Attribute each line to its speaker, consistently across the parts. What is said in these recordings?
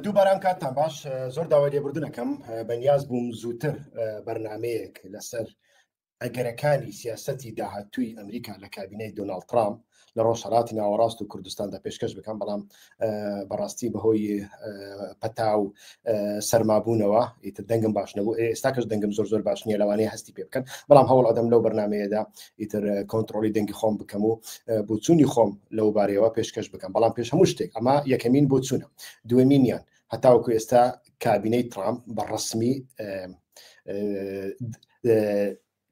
Speaker 1: دووباران کاتتان باش زۆر داوای لێبوردنەکەم بەنیاز بووم زووتر بەرنمەیەک لەسەر ئەگەرەکانی سیاستی داهاتووی ئەمریکا لە کابینەی دۆناالد ترامپ لە ڕۆژهڵاتی ناوەڕاست و کوردستاندا پێشکەش بکەم بەڵام بەڕاستی بەهۆی پەتا و سەرمابوونەوە ئیتر دەنگم باش نەبوو ئێستا کەس دەنگم زۆر زۆر باش نیە لەوانەیە هەستی پێ بکەن بەڵام هەوڵ ئەدەم لەو بەرنمەیەدا ئیتر کۆنتترۆلی دەنگی خۆم بکەم و بچوونی خۆم لەو بارەیەوە پێشکەش بکەم بەڵام پێش هەموو شتێک ئەمە یەکەمین بچوونە دوێنینیان هەتاوەکو ئێستا کابینەی ترامپ بە ڕسمی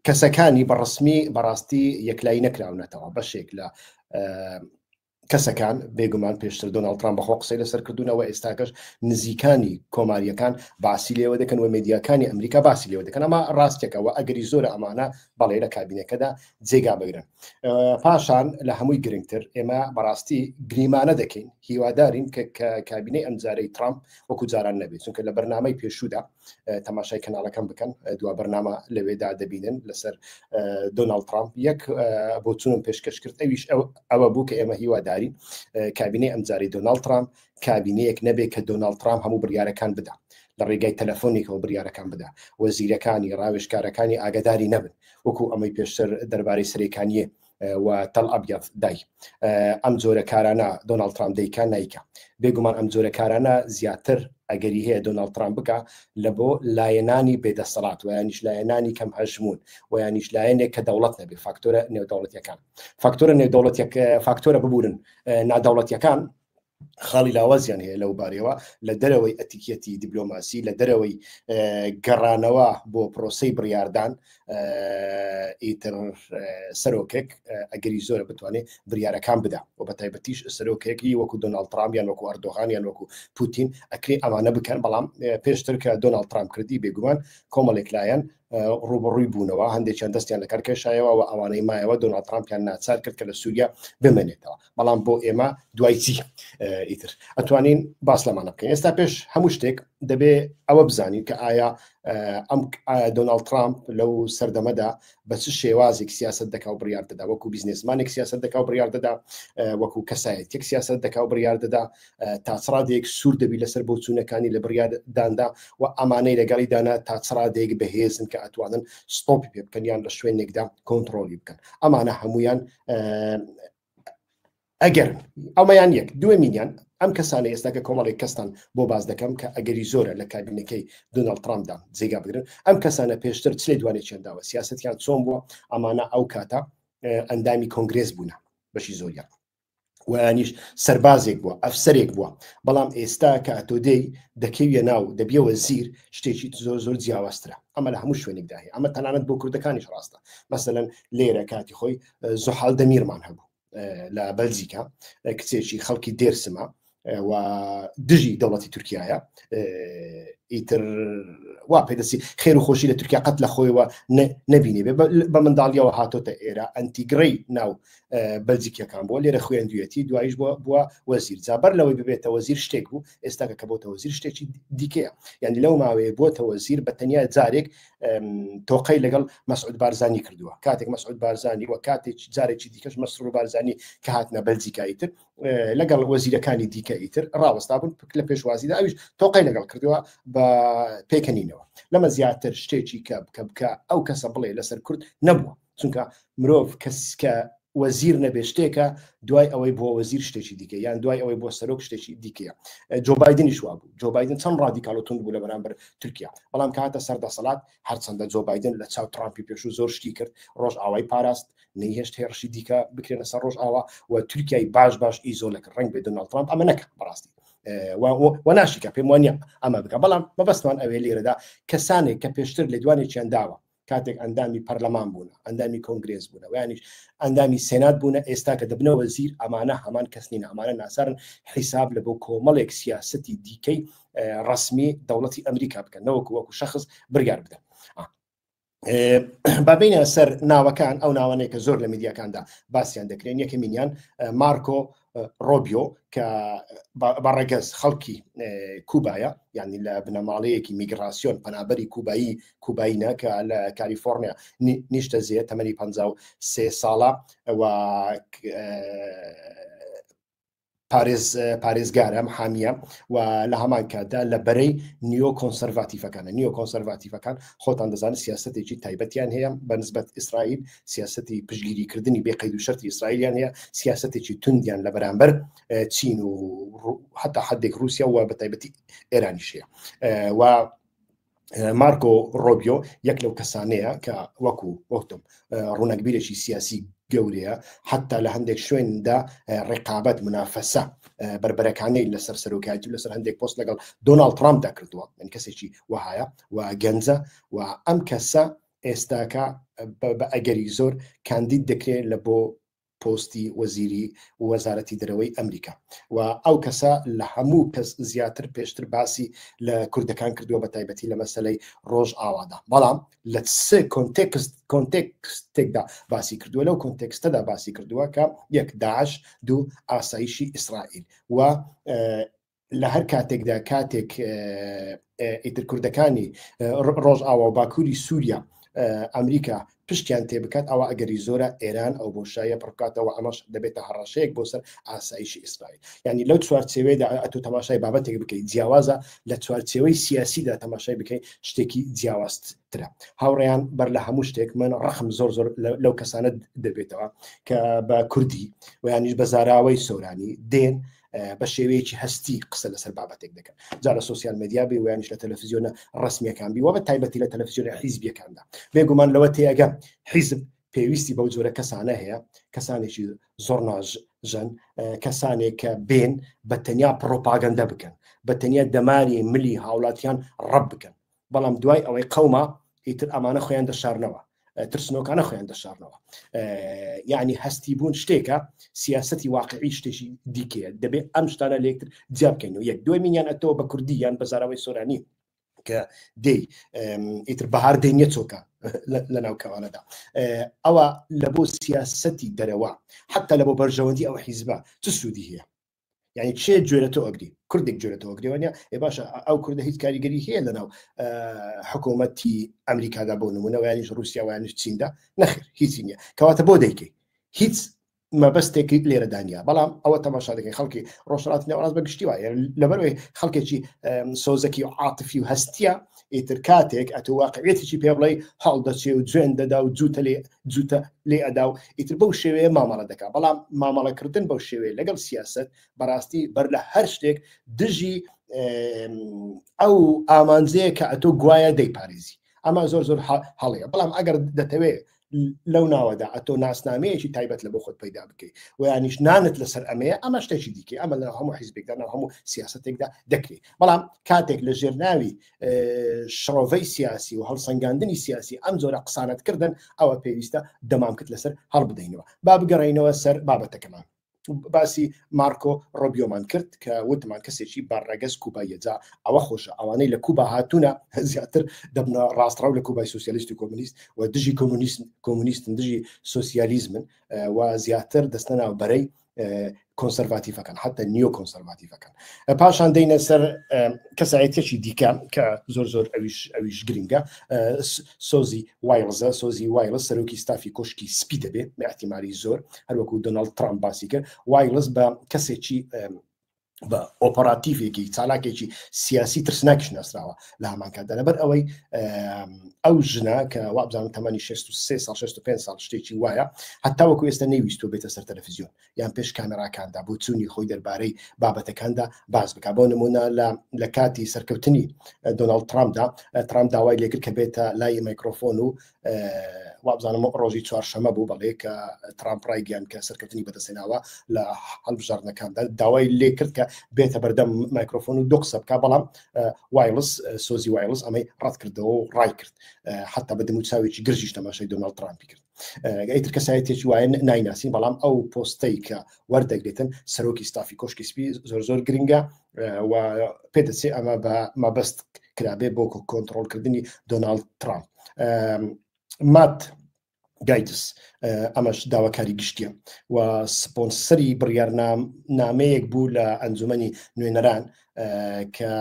Speaker 1: کەسەکانی بەڕسمی بەڕاستی یەکلای نەکراونەتەوە بەشێک لە کەسەکان بێگومان پێشتر دۆناڵد ترامپ بەخۆ قسەی لەسەر کردوونەوە ئێستاکەش نزیکانی کۆماریەکان باسی لێوە دەکەن و مدیاکانی ئەمریکا باسی لێوە دەکەن ئەمە ڕاستێکەوە ئەگەری زۆر ئەمانە بەڵێ لە کابینەکەدا جێگا بگرن پاشان لە هەمووی گرنگتر ئێمە بەڕاستی گریمانە دەکەین هیوادارین کە کابینەی ئەمجارەی ترامپ وەکو جاران نەبێت چونکە لە بەرنمەی پێشودا تەماشای کەناڵەکەم بکەن دوا بەرنامە لەوێدا دەبینن لەسەر دۆناڵد ترامپ یەک بۆ چونم پێشکەش کرد ئەویش ئەوە بوو کە ئێمە هیوادارین کابینەی ئەمجاری دۆناڵد ترامپ کابینەیەک نەبێ کە دۆناڵد ترامپ هەموو بریارەکان بدا لە ڕێگای تەلەفۆنێکەوە بریارەکان بدا وەزیرەکانی ڕاوێشکارەکانی ئاگداری نەبن وەکو ئەمەی پێشتر دەربارەی سرێکانیە و تەل ئەبیەض دای ئەم جۆرە کارانە دۆناڵد ترامپ دەیکا نایکا بێگومان ئەم جۆرە کارانە زیاتر ئەگەری هەیە دۆناڵد ترامپ بکە لە بۆ لایەنانی بێدەسەڵات ویانیش لایەنانی کەم هەژمون ویانیش لایەنێک کە دەوڵەت نەبێ فاکتۆرە نێودەوڵەتیەکان فاکتۆرە نێودەوڵەتیەکە فاکتۆرە ببورن نادەوڵەتیەکان خاڵی لاوازیان هەیە لەو بارەوە لە دەرەوەی ئەتیکیەتی دیبلۆماسی لە دەرەوەی گەڕانەوە بۆ پرۆسی بڕاردان ئیتر سەرۆکێک ئەگەری زۆرە بتوانێت بریارەکان بدا و بە تایبەتیش سەرۆکێکی وەکو دۆناڵ ترامیان وەکو ئەردۆغانیان وەکو پوتین ئەکری ئەمانە بکەن بەڵام پێشتر کە دۆناڵ ترام کردی بێگومان کۆمەڵێک لایەن ڕوبڕووی بوونەوە هەندێکیان دەستیان لەکار کێشایەوە و ئەوانەی مایەوە دۆناڵ ترامپیان ناچار کرد کە لە سووریا بمێنێتەوە بەڵام بۆ ئێمە دوای چی ئیتر ئەتوانین باس لەمانە بکەین ئێستا پێش هەموو شتێک دەبێ ئەوە بزانین کە ئایا ئەم دۆناالد ترامپ لەو سەردەمەدا بە چ شێوازێک سیاست دەکا و بڕیار دەدا وەکو بیزنسمانێک سیاست دەکا و بڕیار دەدا وەکو کەسایەتێک سیاست دەکا و بڕیار دەدا تاچڕادێک سوور دەبی لەسەر بۆ چوونەکانی لە بڕارداندا و ئەمانەی لەگەڵی دانا تاچڕادێک بەهێزن کە ئەتوانن ستۆپی پێ بکەن یان لە شوێنێکدا کۆنتترۆلی بکەن ئەمانە هەمویان ئەگەر ئەومەیان یەک دوێ میلیان ئەم کەسانە ئێستا کە کۆمەڵێک کەستان بۆ باز دەکەم کە ئەگەری زۆرە لە کابینەکەی دۆناڵد ترامدا جێگا بگرن ئەم کەسانە پێشتر چێ دوانێ چێنداوە سیاستیان چۆن بووە ئەمانە ئەو کاتە ئەندامی کۆنگرێز بوونە بەشی زۆریان ویانیش سەربازێک بووە ئەفسەرێک بووە بەڵام ئێستا کە ئەتۆ دێی دەکەویە ناو دەبیەوە زیر شتێکی زۆر زۆر جیاوازترە ئەمە لە هەموو شوێنێکدا هەیە ئەمە تەنانەت بۆ کوردەکانیش ڕاستە مەسەەن لێرە کاتی خۆی زۆحال دەمیرمان هەبوو لە بەلزیکا کچێکی خەڵکی دێرسمە و دژی دەوڵەتی تورکایە ئیتر وا پێدەسی خێر و خۆشی لە تورکیا قەت لە خۆیەوە نبینێ بە منداڵیەوە هاتۆتە ئێرە ئەنتیگرەی ناو بەلجیکیەکان بۆ لێرە خوێندویەتی دوایش بۆ بووە وەزیر جابەر لەوەی ببێتە وەزیر شتێک بوو ئێستاکە کە بۆتە وەزیر شتێکی دیکەیە یعنی لەو ماوەیە بۆتە وەزیر بە تەنیا جارێک تۆقەی لەگەڵ مەسعود بارزانانی کردووە کاتێک مەسعود بارزانانی وە کاتێک جارێکی دیکەش مەسرور بارزانانی کە هاتنە بەلجیکایی تر لەگەڵ وەزیرەکانی دیکە ئیتر ڕاوەستا بوون پک لە پێشوازیدا ئەویش تۆقای لەگەڵ کردووە بە پێکەنینەوە لەمە زیاتر شتێکی کە بکە بکە ئەو کەسە بڵێ لەسەر کورد نەبووە چونکە مرۆڤ کەس کە وەزیر نەبێ شتێکە دوای ئەوەی بۆ وەزیر شتێکی دیکە یان دوای ئەوەی بۆ سەرۆک شتێکی دیکەیە جۆبایدنیش وا بوو جۆبایدن چەند ڕادیکال و تونند بوو لە بەرامبەر تورکیا بەڵام کاتە سەر دەسەڵات هەرچەندە جۆبایدن لە چاو ترامپی پێشوو زۆر شتی کرد ڕۆژ ئاوای پاراست نەیهێشت هێڕشی دیکە بکرێنە سەر ڕۆژ ئاوا و تورکیای باش باش ئیزۆلە کرد ڕنگ بێ دۆناڵد ترامپ ئەمە نەکە بەڕاستی و ناشیکە پێم وانە ئەمە بکە بەڵام مەبەستمان ئەوێ لێرەدا کەسانێک کە پێشتر لێدوانێکیان داوە کاتێک ئەندامی پەرلەمان بوون ئەندامی کۆنگرێز بوون ویانیش ئەندامی سێنات بوونە ئێستا کە دەبنە وەزیر ئەمانە هەمان کەسنین ئەمانە ناسەرن حیساب لە بۆ کۆمەڵێک سیاستی دیکەی ڕسمی دەوڵەتی ئەمریکا بکەن نەوەکو وەکو شخص برگار بدەن بابینە سەر ناوەکان ئەو ناوانێک کە زۆر لە میدیاکاندا باسییان دەکرێن یەکەمینیان مارکۆ ڕۆبیۆ کە بەڕێگەز خەڵکی کوبایە یعنی لە بنەماڵەیەکی میگراسیۆن پەنابەری کوبایی کوبایینە کە لە کالیفۆرنیا نیشتە زیێ تەمەنی پ سێ ساڵە و پارێز پارێزگارم حامیە و لە هەمان کاتدا لە بەرەی نیۆ کۆنسەرڤاتیفەکانە نیۆ کۆنسەرڤاتیفەکان خۆتان دەزانن سیاستێکی تایبەتیان هەیە بەنسبەت ئیسرائیل سیاستی پشگیریکردنی بێ قەید و شەرتی ئیسرائیلیان هەیە سیاستێکی توندیان لە بەرامبەر چین و حتا حدێک رووسیا و بە تایبەتی ئێرانیشەیە و مارکۆ ڕۆبیۆ یەک لەو کەسانەیە کە وەکو وەختم ڕوونەکبیرێکی سیاسی گەورەیە حتا لە هەندێک شوێندا ڕێقابەت منافەسە بربەرەکانی لەسەر سەرۆکایەتی و لەسەر هەندێک پۆست لەگەڵ دۆناالد ترامپ دەکردووە من کەسێکی وهایە و گەنجە و ئەم کەسە ئێستاکە بە ئەگەری زۆر کاندید دەکرێت لە بۆ پۆستی وەزیری وەزارەتی دەرەوەی ئەمریکا و ئەو کەسە لە هەموو کەس زیاتر پێشتر باسی لە کوردەکان کردووە بە تایبەتی لە مەسلەی ڕۆژ ئاوادا بەڵام لە سێ کۆنتێکست کۆنتێکستێکدا باسی کردووە لەو کۆنتێکستەدا باسی کردووە کە یەک داعش دوو ئاسایشی ئیسرائیل و لە هەر کاتێکدا کاتێک ئیتر کوردەکانی ڕۆژ ئاوا و باکووری سووریا ئەمریکا پشتیان تێ بکات ئەوە ئەگەری زۆرە ئێران ئەو بۆشایە پڕکاتەوە ئەمەش دەبێتە هەڕەشەیەک بۆ سەر ئاسایشی ئیسرائیل ینی لەو چوارچێوێدا ئەتو تەماشای بابەتێک بکەیت جیاوازە لە چوارچێوەی سیاسیدا تەماشای بکەیت شتێکی جیاواست ترە هاوڕێیان بەر لە هەموو شتێک من ڕخم زۆر زۆر لەو کەسانە دەبێتەوە کە بە کوردی ویانیش بە زاراوەی سۆرانی دێن بە شێوەیەکی هەستی قسە لەسەر بابەتێک دەکەن جا لە سوسیال مدیا بی ویانش لە تەلەفزیۆنە ڕسمیەکان بی وە بە تایبەتی لە تەلەفزیۆنە حیزبیەکاندا بێگومان لەوە تێگە حیزب پێویستی بەو جۆرە کەسانە هەیە کەسانێکی زۆر ناژ ژەن کەسانێک کە بێن بە تەنیا پڕۆپاگەندە بکەن بە تەنیا دەماری ملی هاوڵاتیان ڕەب بکەن بەڵام دوای ئەوەی قەوما ئیتر ئەمانە خۆیان دەشارنەوە ترسنۆکانە خۆیان دەشارنەوە یعنی هەستی بوون شتێکە سیاستی واقعی شتێکی دیکەیە دەبێت ئەم شتانە لەکتر جیابکەین و یەک دوای مینیان ئەتەوە بە کوردی یان بە زاراوەی سۆرانی کە دەی ئیتر بەهار دەینە چۆکە لە ناو کەوانەدا ئەوە لە بۆ سیاستی دەرەوە حتا لە بۆ بەرژەوەندی ئەو حیزبە چ سوودی هەیە یعنی چێ گوێرە تۆ ئەگری کوردێک گوێرە تۆ گرێوانە ئێ باشە ئەو کوردە هیچ کاریگەری هەیە لەناو حکوومەتی ئەمریکادا بۆ نمونەوەیانش رووسیاوانش چیندا نەخر هیچی نییە کەواتە بۆ دەیکەی هیچ مەبەستێکی لێرە دانیا بەڵام ئەوە تەماشا دەکەین خەڵکی ڕۆژهڵات نێوڕاز بە گشتی وایە لەبەرەوەی خەڵکێکی سۆزەکی و عاتفی و هەستە ئیتر کاتێک ئەتۆ واقعێتیی پێ بڵێ هەڵدەچێ و جوێن دەدا و جووتە لێ جووتە لێ ئەدا و ئیتر بەو شێوەیە مامەڵە دەکا بەڵام مامەڵەکردن بەو شێوەیە لەگەڵ سیاست بەڕاستی بەر لە هەر شتێک دژی ئەو ئامانجەیە کە ئەتۆ گوایە دەیپارێزی ئەمە زۆر زۆر هەڵەیە بەڵام ئەگەر دەتەوێت لەو ناوەدا ئەتۆ ناسنامەیەکی تایبەت لە بۆ خۆت پیدا بکەیت ویانیش نانت لەسەر ئەمەیە ئەمە شتێکی دیکە ئەمە لە هەموو حیزبێکدا ناو هەموو سیاستێکدا دەکرێت بەڵام کاتێک لە ژێرناوی شڕۆڤەی سیاسی و هەڵسەنگاندنی سیاسی ئەم جۆرە قسانت کردن ئەوە پێویستە دەمامکت لەسەر هەڵبدەینەوە با بگەڕینەوە سەر بابەتەکەمان باسی مارکۆ ڕۆبیۆمان کرد کە وتمان کەسێکی بە ڕێگەز کوبایەجا ئەوە خۆشە ئەوانەی لە کوبا هاتوونە زیاتر دەبنە ڕاستڕاو لە کوبای سوسیالیست و کۆمونیست و دژی کۆمونیسم کۆمونیستن دژی سوسیالیزمن و زیاتر دەستە ناو بەرەی کۆنسەرڤاتیفەکان حتا نیۆ کۆنسەرڤاتیفەکان پاشان دەینە سەر کەسایەتێکی دیکە کە زۆر زۆر ئەویش ئەویش گرنگە سۆزی وایڵزە سۆزی وایڵە سەرۆکی ستافی کۆشکی سپی دەبێت بەحتیماری زۆر هەروەکو دۆناڵد ترامپ باسی کرد وایڵس بە کەسێکی بە ئۆپەراتیڤێکی چالاکێکی سیاسی ترسناکیش ناسراوە لە هەمانکاتدا لەبەر ئەوەی ئەو ژنا کە وابزان تەمەنی 63 سال 65 سال شتێکی وایە هەتا وەکو ئێستا نەویستۆ بێتە سەر تەلەفزیۆن یان پێش کامێراکاندا بۆ چوونی خۆی دەربارەی بابەتەکاندا باز بک بۆ نمونە لە لە کاتی سەرکەوتنی دۆناڵد ترامدا ترام داوای لێکرد کە بێتە لای میکرۆفۆن و وابزانم ڕۆژی چوارشەمە بوو بەڵێ کە ترامپ ڕایگەیان کە سەرکەوتنی بەدەستێناوە لە هەڵبژاردنەکاندا داوای لێ کرد کە بێتە بەردەم مایکرۆفۆن و دو قسە بکە بەڵام وایلس سۆزی وایلس ئەمەی ڕەت کردەوە و ڕای کرد حتا بە دەموچاوێکی گرژیش تەماشای دۆناڵ ترامپی کرد ئەیتر کەسایەتێکی وایە نایناسین بەڵام ئەو پۆستەی کە وەردەگرێتن سەرۆکی ستافی کۆشکی سپی زۆر زۆر گرنگە و پێدەچێت ئەمە بە مەبەست کرابێ بۆ کۆنتترۆلکردنی دۆناالد ترامپ مات گایدس ئەمەش داواکاری گشتیە و سپۆنسەری بڕیارنام نامەیەک بوو لە ئەنجومی نوێنەران کە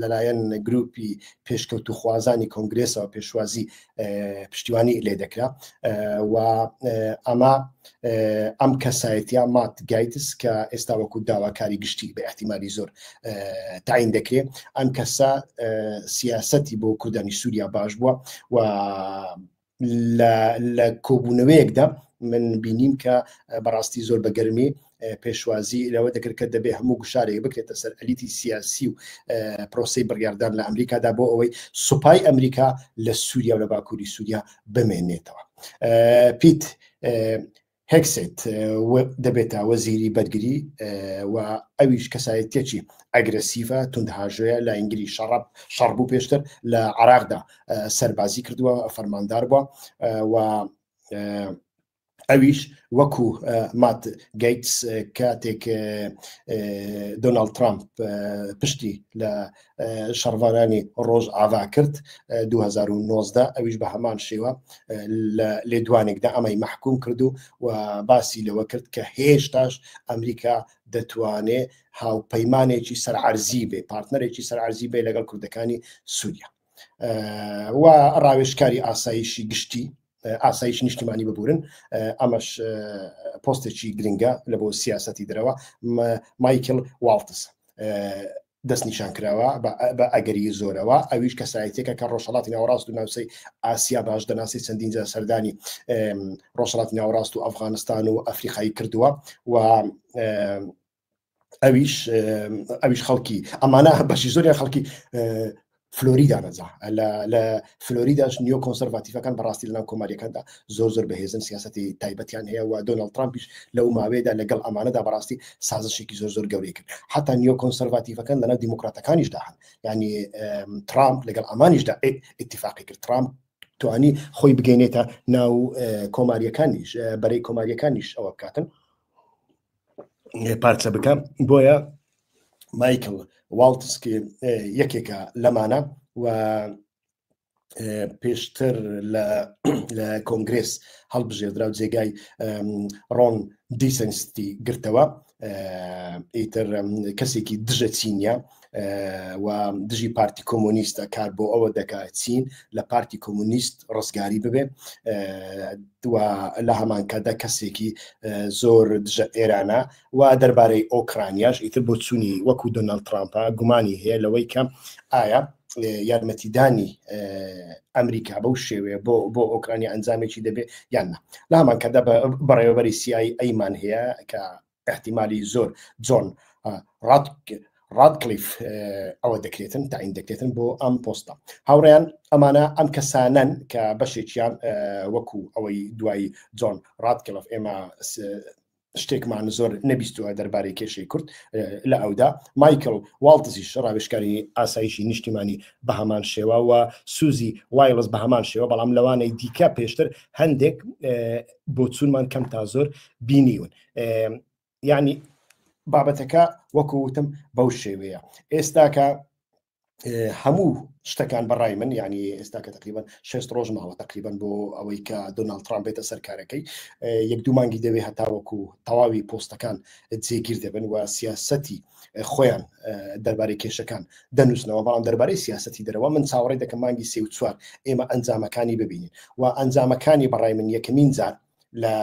Speaker 1: لەلایەن گروپی پێشکەوتوخوازانی کۆنگرێسەوە پێشوازی پشتیوانی لێ دەکرا و ئەمە ئەم کەسایەتە مات گایتس کە ئێستا وەکو داواکاری گشتی بە احتیممالی زۆر تاین دەکرێت ئەم کەسە سیاستی بۆ کوردانی سووریا باش بووە و لە کۆبوونەوەیەکدا من بینیم کە بەڕاستی زۆر بە گەرمی پێشوازی لەوە دەکرد کە دەبێ هەموو گوشارێک بکرێتە سەر ئەلیتی سیاسی و پرۆسی بڕیاردان لە ئەمریکادا بۆ ئەوەی سوپای ئەمریکا لە سووریا و لە باکووری سووریا بمێنێتەوە پیت هێگسێت دەبێتە وەزیری بەرگری و ئەویش کەسایەتێکی ئەگرسیڤە توندهاژەیە لە ئینگلی شەڕەب شەڕ بوو پێشتر لە عراقدا سەربازی کردووە فەرماندار بووە و ئەویش وەکو مات گەیتس کاتێک دۆناالد ترامپ پشتی لە شەڕڤانانی ڕۆژ ئاوا کرد 2009دا ئەویش بە هەمان شێوە لە لێدوانێکدا ئەمەی مححکوم کردو و باسی لەوە کرد کە هێشتاش ئەمریکا دەتوانێ هاوپەیمانێکی سەرعەرزی بێ پارتنەرێکی سەرعەرزی بێ لەگەڵ کوردەکانی سووریا و ڕاوێشکاری ئاسایشی گشتی ئاسایش نیشتیمانی ببورن ئەمەش پۆستێکی گرنگە لە بۆ سیاستی درەوە مایکل والتس دەستنیشانکراوە بە ئەگەری زۆرەوە ئەویش کەسایەتێکە کە ڕۆژهەڵاتی ناوەڕاست و ناوچەی ئاسیا باش دەناسی چەندین جار سەردانی ڕۆژهەڵاتی ناوەڕاست و ئەفغانستان و ئەفریقایی کردووە و ئەویش ئەویش خەڵکی ئەمانە بەشی زۆریان خەڵکی فلۆریدا نەجا لە فلۆریداش نیۆ کۆنسەرڤاتیفەکان بەڕاستی لەناو کۆماریەکاندا زۆر زۆر بەهێزن سیاستی تایبەتیان هەیە و دۆناڵد ترامپیش لەو ماوەیەدا لەگەڵ ئەمانەدا بەڕاستی سازشێکی زۆر زۆر گەورەی کرد حتا نیۆ کۆنسەرڤاتیفەکان لەناو دیموکراتەکانیشدا هەن ینی ترامپ لەگەڵ ئەمانیشدا اتفاقی کرد ترامپ توانی خۆی بگەینێتە ناو کۆماریەکانیش بەرەی کۆماریەکانیش ئەوە بکاتن پارچە بکەم بۆیە مایکل واڵتسکی یەکێکە لەمانە و پێشتر لە کۆنگرس هەڵبژێردرا و جێگای ڕۆن دیسەنستی گرتەوە ئیتر کەسێکی دژە چینە و دژی پارتی کۆمۆنیستە کار بۆ ئەوە دەکات چین لە پارتی کۆمونیست ڕزگاری ببێ لە هەمانکەدا کەسێکی زۆر دژە ئێرانە و دەربارەی ئۆکرانیاش ئیتر بۆ چووی وەکو دۆناڵ ترامپە گومانی هەیە لەوەی کەم ئایا یارمەتیدانی ئەمریکا بەو شێوەیە بۆ بۆ ئۆکرانیا ئەنجامێکی دەبێت یان نە لامان کەدا بەڕێوەبەری سیایی ئەیمان هەیە کە ئەحتیمالی زۆر جۆن ڕادکلیف ئەوە دەکرێتن تاین دەکرێتن بۆ ئەم پۆستە هاوڕیان ئەمانە ئەم کەسانەن کە بەشێکیان وەکو ئەوەی دوایی جۆن ڕادکلف ئێمە شتێکمان زۆر نەبیستوە دەربارەی کێشەی کورد لە ئەودا مایکل واڵتزیش ڕاوێشکاری ئاسایشی نیشتیمانی بە هەمان شێوە و سوزی وایڵز بە هەمان شێوە بەڵام لەوانەی دیکە پێشتر هەندێک بۆ چونمان کەم تا زۆر بینیون یعنی بابەتەکە وەکوتم بەو شێوەیە ئێستاکە هەموو شتەکان بەڕای من یعنی ئێستا کە تقریبان شست ڕۆژ ماوە تقریبان بۆ ئەوەی کە دۆناال ترام بێتە سەرکارەکەی یەک دومانگی دەوێ هەتاوەکو تەواوی پۆستەکان جێگیر دەبن و سیاستی خۆیان دەربارەی کێشەکان دەنووسنەوە بەڵام دەربارەی سیاستی دەرەوە من چاوەڕی دەکەم مانگی سێ و چوار ئێمە ئەنجامەکانی ببینین و ئەنجامەکانی بەڕای من یەکەمین جار لە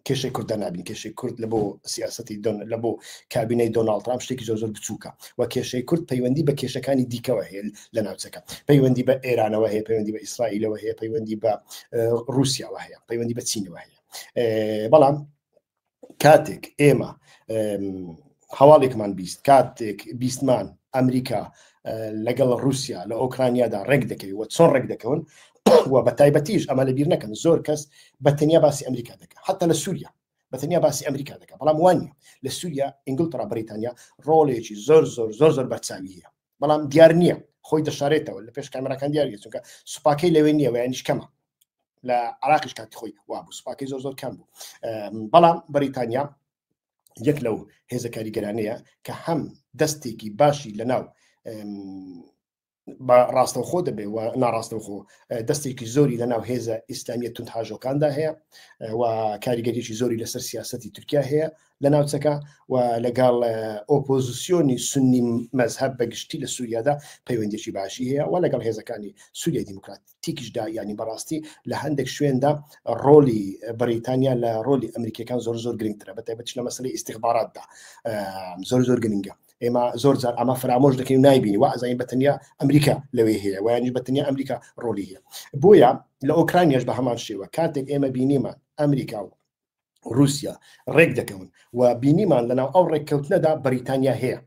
Speaker 1: کێشەی کورد دەرنابین کێشەی کورد لە بۆ سیاستی لە بۆ کابینەی دۆناڵ ترام شتێکی زۆر زۆر بچووکە و کێشەی کورد پەیوەندی بە کێشەکانی دیکەوە هەیە لە ناوچەکە پەیوەندی بە ئێرانەوە هەیە پەیوەندی بە ئیسرائیلەوە هەیە پەیوەندی بە رووسیاوە هەیە پەیوەندی بە چینەوە هەیە بەڵام کاتێک ئێمە هەواڵێکمان بیست کاتێک بیستمان ئەمریکا لەگەڵ رووسیا لە ئۆکرانیادا ڕێک دەکەوی و چۆن ڕێک دەکەون و بە تایبەتیش ئەمە لە بیر نەکەن زۆر کەس بە تەنیا باسی ئەمریکا دەکە حتا لە سووریا بە تەنیا باسی ئەمریکا دەکە بەڵام وانە لە سووریا ئینگلترا بریتانیا ڕۆڵێکی زۆر زۆر زۆر زۆر بەرچاوی هەیە بەڵام دیار نییە خۆی دەشارێتەوە لە پێش کامراکان دیارە چونکە سوپاکەی لەوێ نییە ویانش کەمە لە عراقیش کاتی خۆی وابوو سوپاکەی زۆر زۆر کەم بوو بەڵام بەریتانیا یەک لەو هێزە کاریگەرانەیە کە هەم دەستێکی باشی لەناو بە ڕاستەوخۆ دەبێ و ناڕاستەوخۆ دەستێکی زۆری لە ناو هێزە ئیسلامیە تون هاژۆکاندا هەیە و کاریگەریی زۆری لەسەر سیاستی تورکیا هەیە لە ناوچەکە و لەگەڵ ئۆپۆزیسیۆنی سنی مەذهب بەگشتی لە سووریادا پەیوەندێکی باشی هەیە و لەگەڵ هێزەکانی سووریای دیموکراتی تیکیشدا یانی بەڕاستی لە هەندێک شوێندا ڕۆلی بەریتانیا لە ڕۆلی ئەمریکەکان زۆر زۆر گرنگترە بە تایبەت لە مەسلی ئیسیخباراتدا زۆر زۆر گرنگە ئێمە زۆر جار ئەمە فرامۆش دەکەین نایبینی و ئەزانین بەتەنیا ئەمریکا لەوێ هەیە وایانی بەتەنیا ئەمریکا ڕۆلی هەیە بۆیە لە ئۆکرانیش بە هەمان شێوە کاتێک ئێمە بینیمان ئەمریکا و رووسیا ڕێک دەکەون و بینیمان لەناو ئەو ڕێککەوتنەدا بەریتانیا هەیە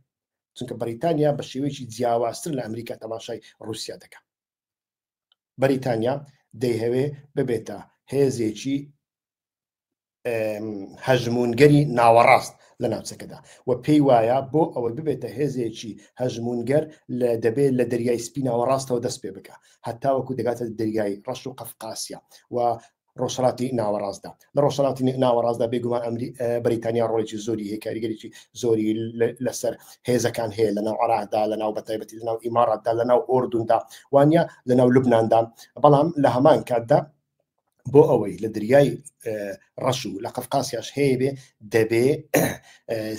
Speaker 1: چونکە بەریتانیا بە شێوەیەکی جیاوازتر لە ئەمریکا تەماشای رووسیا دەکەن بەریتانیا دەیهەوێ ببێتە هێزێکی هەژمونگەری ناوەڕاست لە ناوچەکەدا و پێی وایە بۆ ئەوەی ببێتە هێزێکی هەژمونگەر لە دەبێت لە دەریای سپی ناوەڕاستەوە دەست پێ بکە هەتاوەکو دەگاتە دەریای ڕەش و قەفقاسیا و ڕۆژهەڵاتی ناوەڕاستدا لە ڕۆژهەڵاتی ناوەڕاستدا بێگومان ئەمری بەریتانیا ڕۆڵێکی زۆری هەیە کاریگەریی زۆری لەسەر هێزەکان هەیە لە ناو عراقدا لە ناو بەتایبەتی لە ناو ئیماڕاتدا لە ناو ئۆردوندا وانە لە ناو لبناندان بەڵام لە هەمان کاتدا بۆ ئەوەی لە دریای ڕەش و لە قەفقاسیاش هەیە بێ دەبێ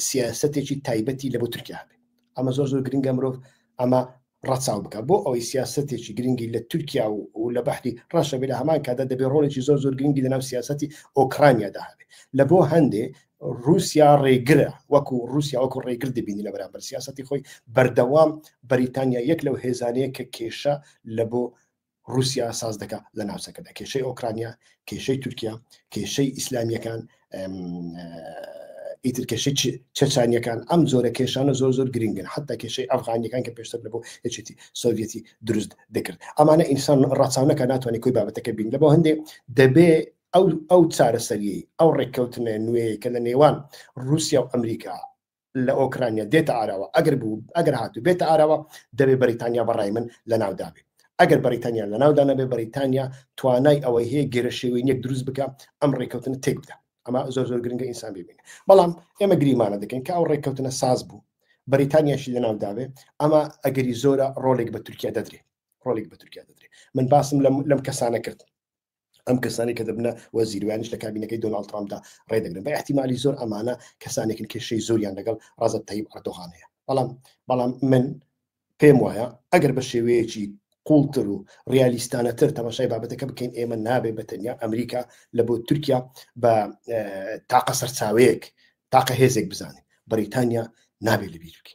Speaker 1: سیاستێکی تایبەتی لە بۆ تورکیا بێ ئەمە زۆر زۆر گرنگە مرۆڤ ئەمە ڕەچاو بکات بۆ ئەوەی سیاسەتێکی گرنگی لە تورکیا و لە بەحری ڕەشە بێ لە هەمان کادا دەبێت ڕۆڵێکی زۆر زۆر گرنگی لەناو سیاسەتی ئۆکرانیادا هەبێت لە بۆ هەندێ رووسیا ڕێگرە وەکو رووسیا وەکو ڕێگر دەبینی لە بەرامبەر سیاستی خۆی بەردەوام بەریتانیا یەک لەو هێزانەیە کە کێشە لە بۆ ڕوسیا ساز دەکا لە ناوچەکەدا کێشەی ئۆکرانیا کێشەی تورکیا کێشەی ئیسلامیەکان ئیتر کێشەی چەچانیەکان ئەم زۆرە کێشانە زۆر زۆر گرنگن حتا کێشەی ئەفغانیەکان کە پێشتر لەبوو یەکێتی سۆڤەتی دروست دەکرد ئەمانە ئینسان ڕچانەکە ناتوانانی کوی بابەتەکە بین لەبەوە هەندێک دەبێ ئەو ئەو چارەسەری ئەو ڕێککەوتنە نوێیە کە لە نێوان رووسیا و ئەمریکا لە ئۆکرانیا دێتە ئاراوە ئەگەر بوو ئەگەر هاتو بێتە ئاراوە دەبێ بەریتانیا بەڕای من لە ناودابێت ئەگەر بەریتانیا لە ناودا نەبێ بەریتانیا توانای ئەوەی هەیە گەرە شێوەی یەک دروست بکە ئەم ڕێککەوتن تێک بدە ئەمە زۆر زۆر گرنگە ئینسان ببین بەڵام ئێمە گریمانە دەکەین کە ئەو ڕێککەوتنە ساز بوو بەریتانیاشی لە ناوداوێ ئەمە ئەگەری زۆرە ڕۆلێک بە تورکیا دەدرێت ڕۆلێک بە تورکیا دەدرێت من باسم لەم کەسانە کرد ئەم کەسانی کە دەبنە وەزیر ویانش لە کابینەکەی دۆناڵد ترامپدا ڕێدەگرن بە احتیممالی زۆر ئەمانە کەسانێکن کێشەی زۆریان لەگەڵ ڕازت تەیب ئەردۆغان هەیە بەڵام بەڵام من پێم وایە ئەگەر بە شێوەیەکی قوڵتر و ڕالیستانەتر تەماشای بابەتەکە بکەین ئێمە نابێت بە تەنیا ئەمریکا لە بۆ تورکیا بە تاقە سەرچاوەیەک تاقە هێزێک بزانین بەریتانیا نابێت لەبیرکی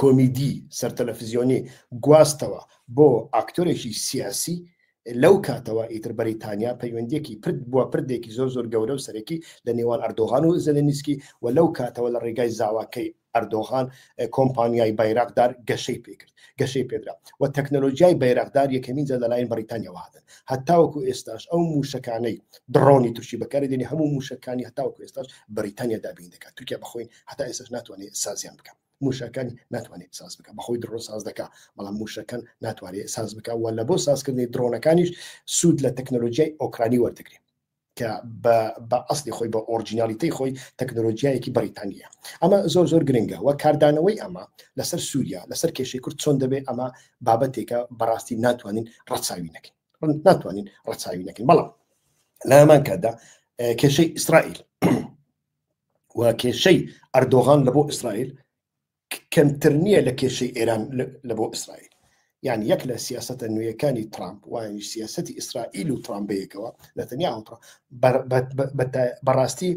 Speaker 1: کۆمیدی سەرتەلەفزیۆنی گواستەوە بۆ ئاکتۆرێکی سیاسی لەو کاتەوە ئیتر بەریتانیا پەیوەندیەکی پرد بووە پردێکی زۆر زۆر گەورە و سەرەکی لە نێوان ئەردۆغان و زەلەنیسکی و لەو کاتەوە لە ڕێگای زاواکەی ئەردۆغان کۆمپانیای بایراقدار گەشەی پێکرد گەشەی پێدرا و تەکنەلۆژیای بایراقدار یەکەمین جە لەلایەن بەریتانیاوە هاتن هەتاوەکو ئێستاش ئەو موشەکانەی دڕۆنی تورکی بەکاری دێنی هەموو موشەکانی هەتاوەکو ئێستاش بەریتانیا دابین دەکات تورکیا بەخۆی هەتا ئێسش ناتوانێت سازیان بکە موشەکانی ناتوانێت ساز بکە بەخۆی درۆ ساز دەکە بەڵام موشەکەن ناتوانێت ساز بکە و لە بۆ سازکردنی درۆنەکانیش سوود لە تەکنەلۆژیای ئۆکرانی وەرتگرێت کە بە ئەستی خۆی بە ئۆرجینالیتی خۆی تەکنۆلۆژیایەکی بەریتانیە ئەمە زۆر زۆر گرنگە و کاردانەوەی ئەمە لەسەر سووریا لەسەر کێشەی کورد چۆن دەبێت ئەمە بابەتێکە بەڕاستی ناتوانین ڕەچاوی نەکەین ناتوانین ڕەچاوی نەکەین بەڵام لەمان کاتدا کێشەی ئیسرائیل و کێشەی ئەردۆغان لە بۆ ئیسرائیل کەمتر نییە لە کێشەی ئێران لە بۆ ئیسرائیل یان یەک لە سیاستە نوێیەکانی ترامپ وانی سیاستی ئیسرائیل و ترامبەیەکەوە لە تەنیا ئەڵترا بەڕاستی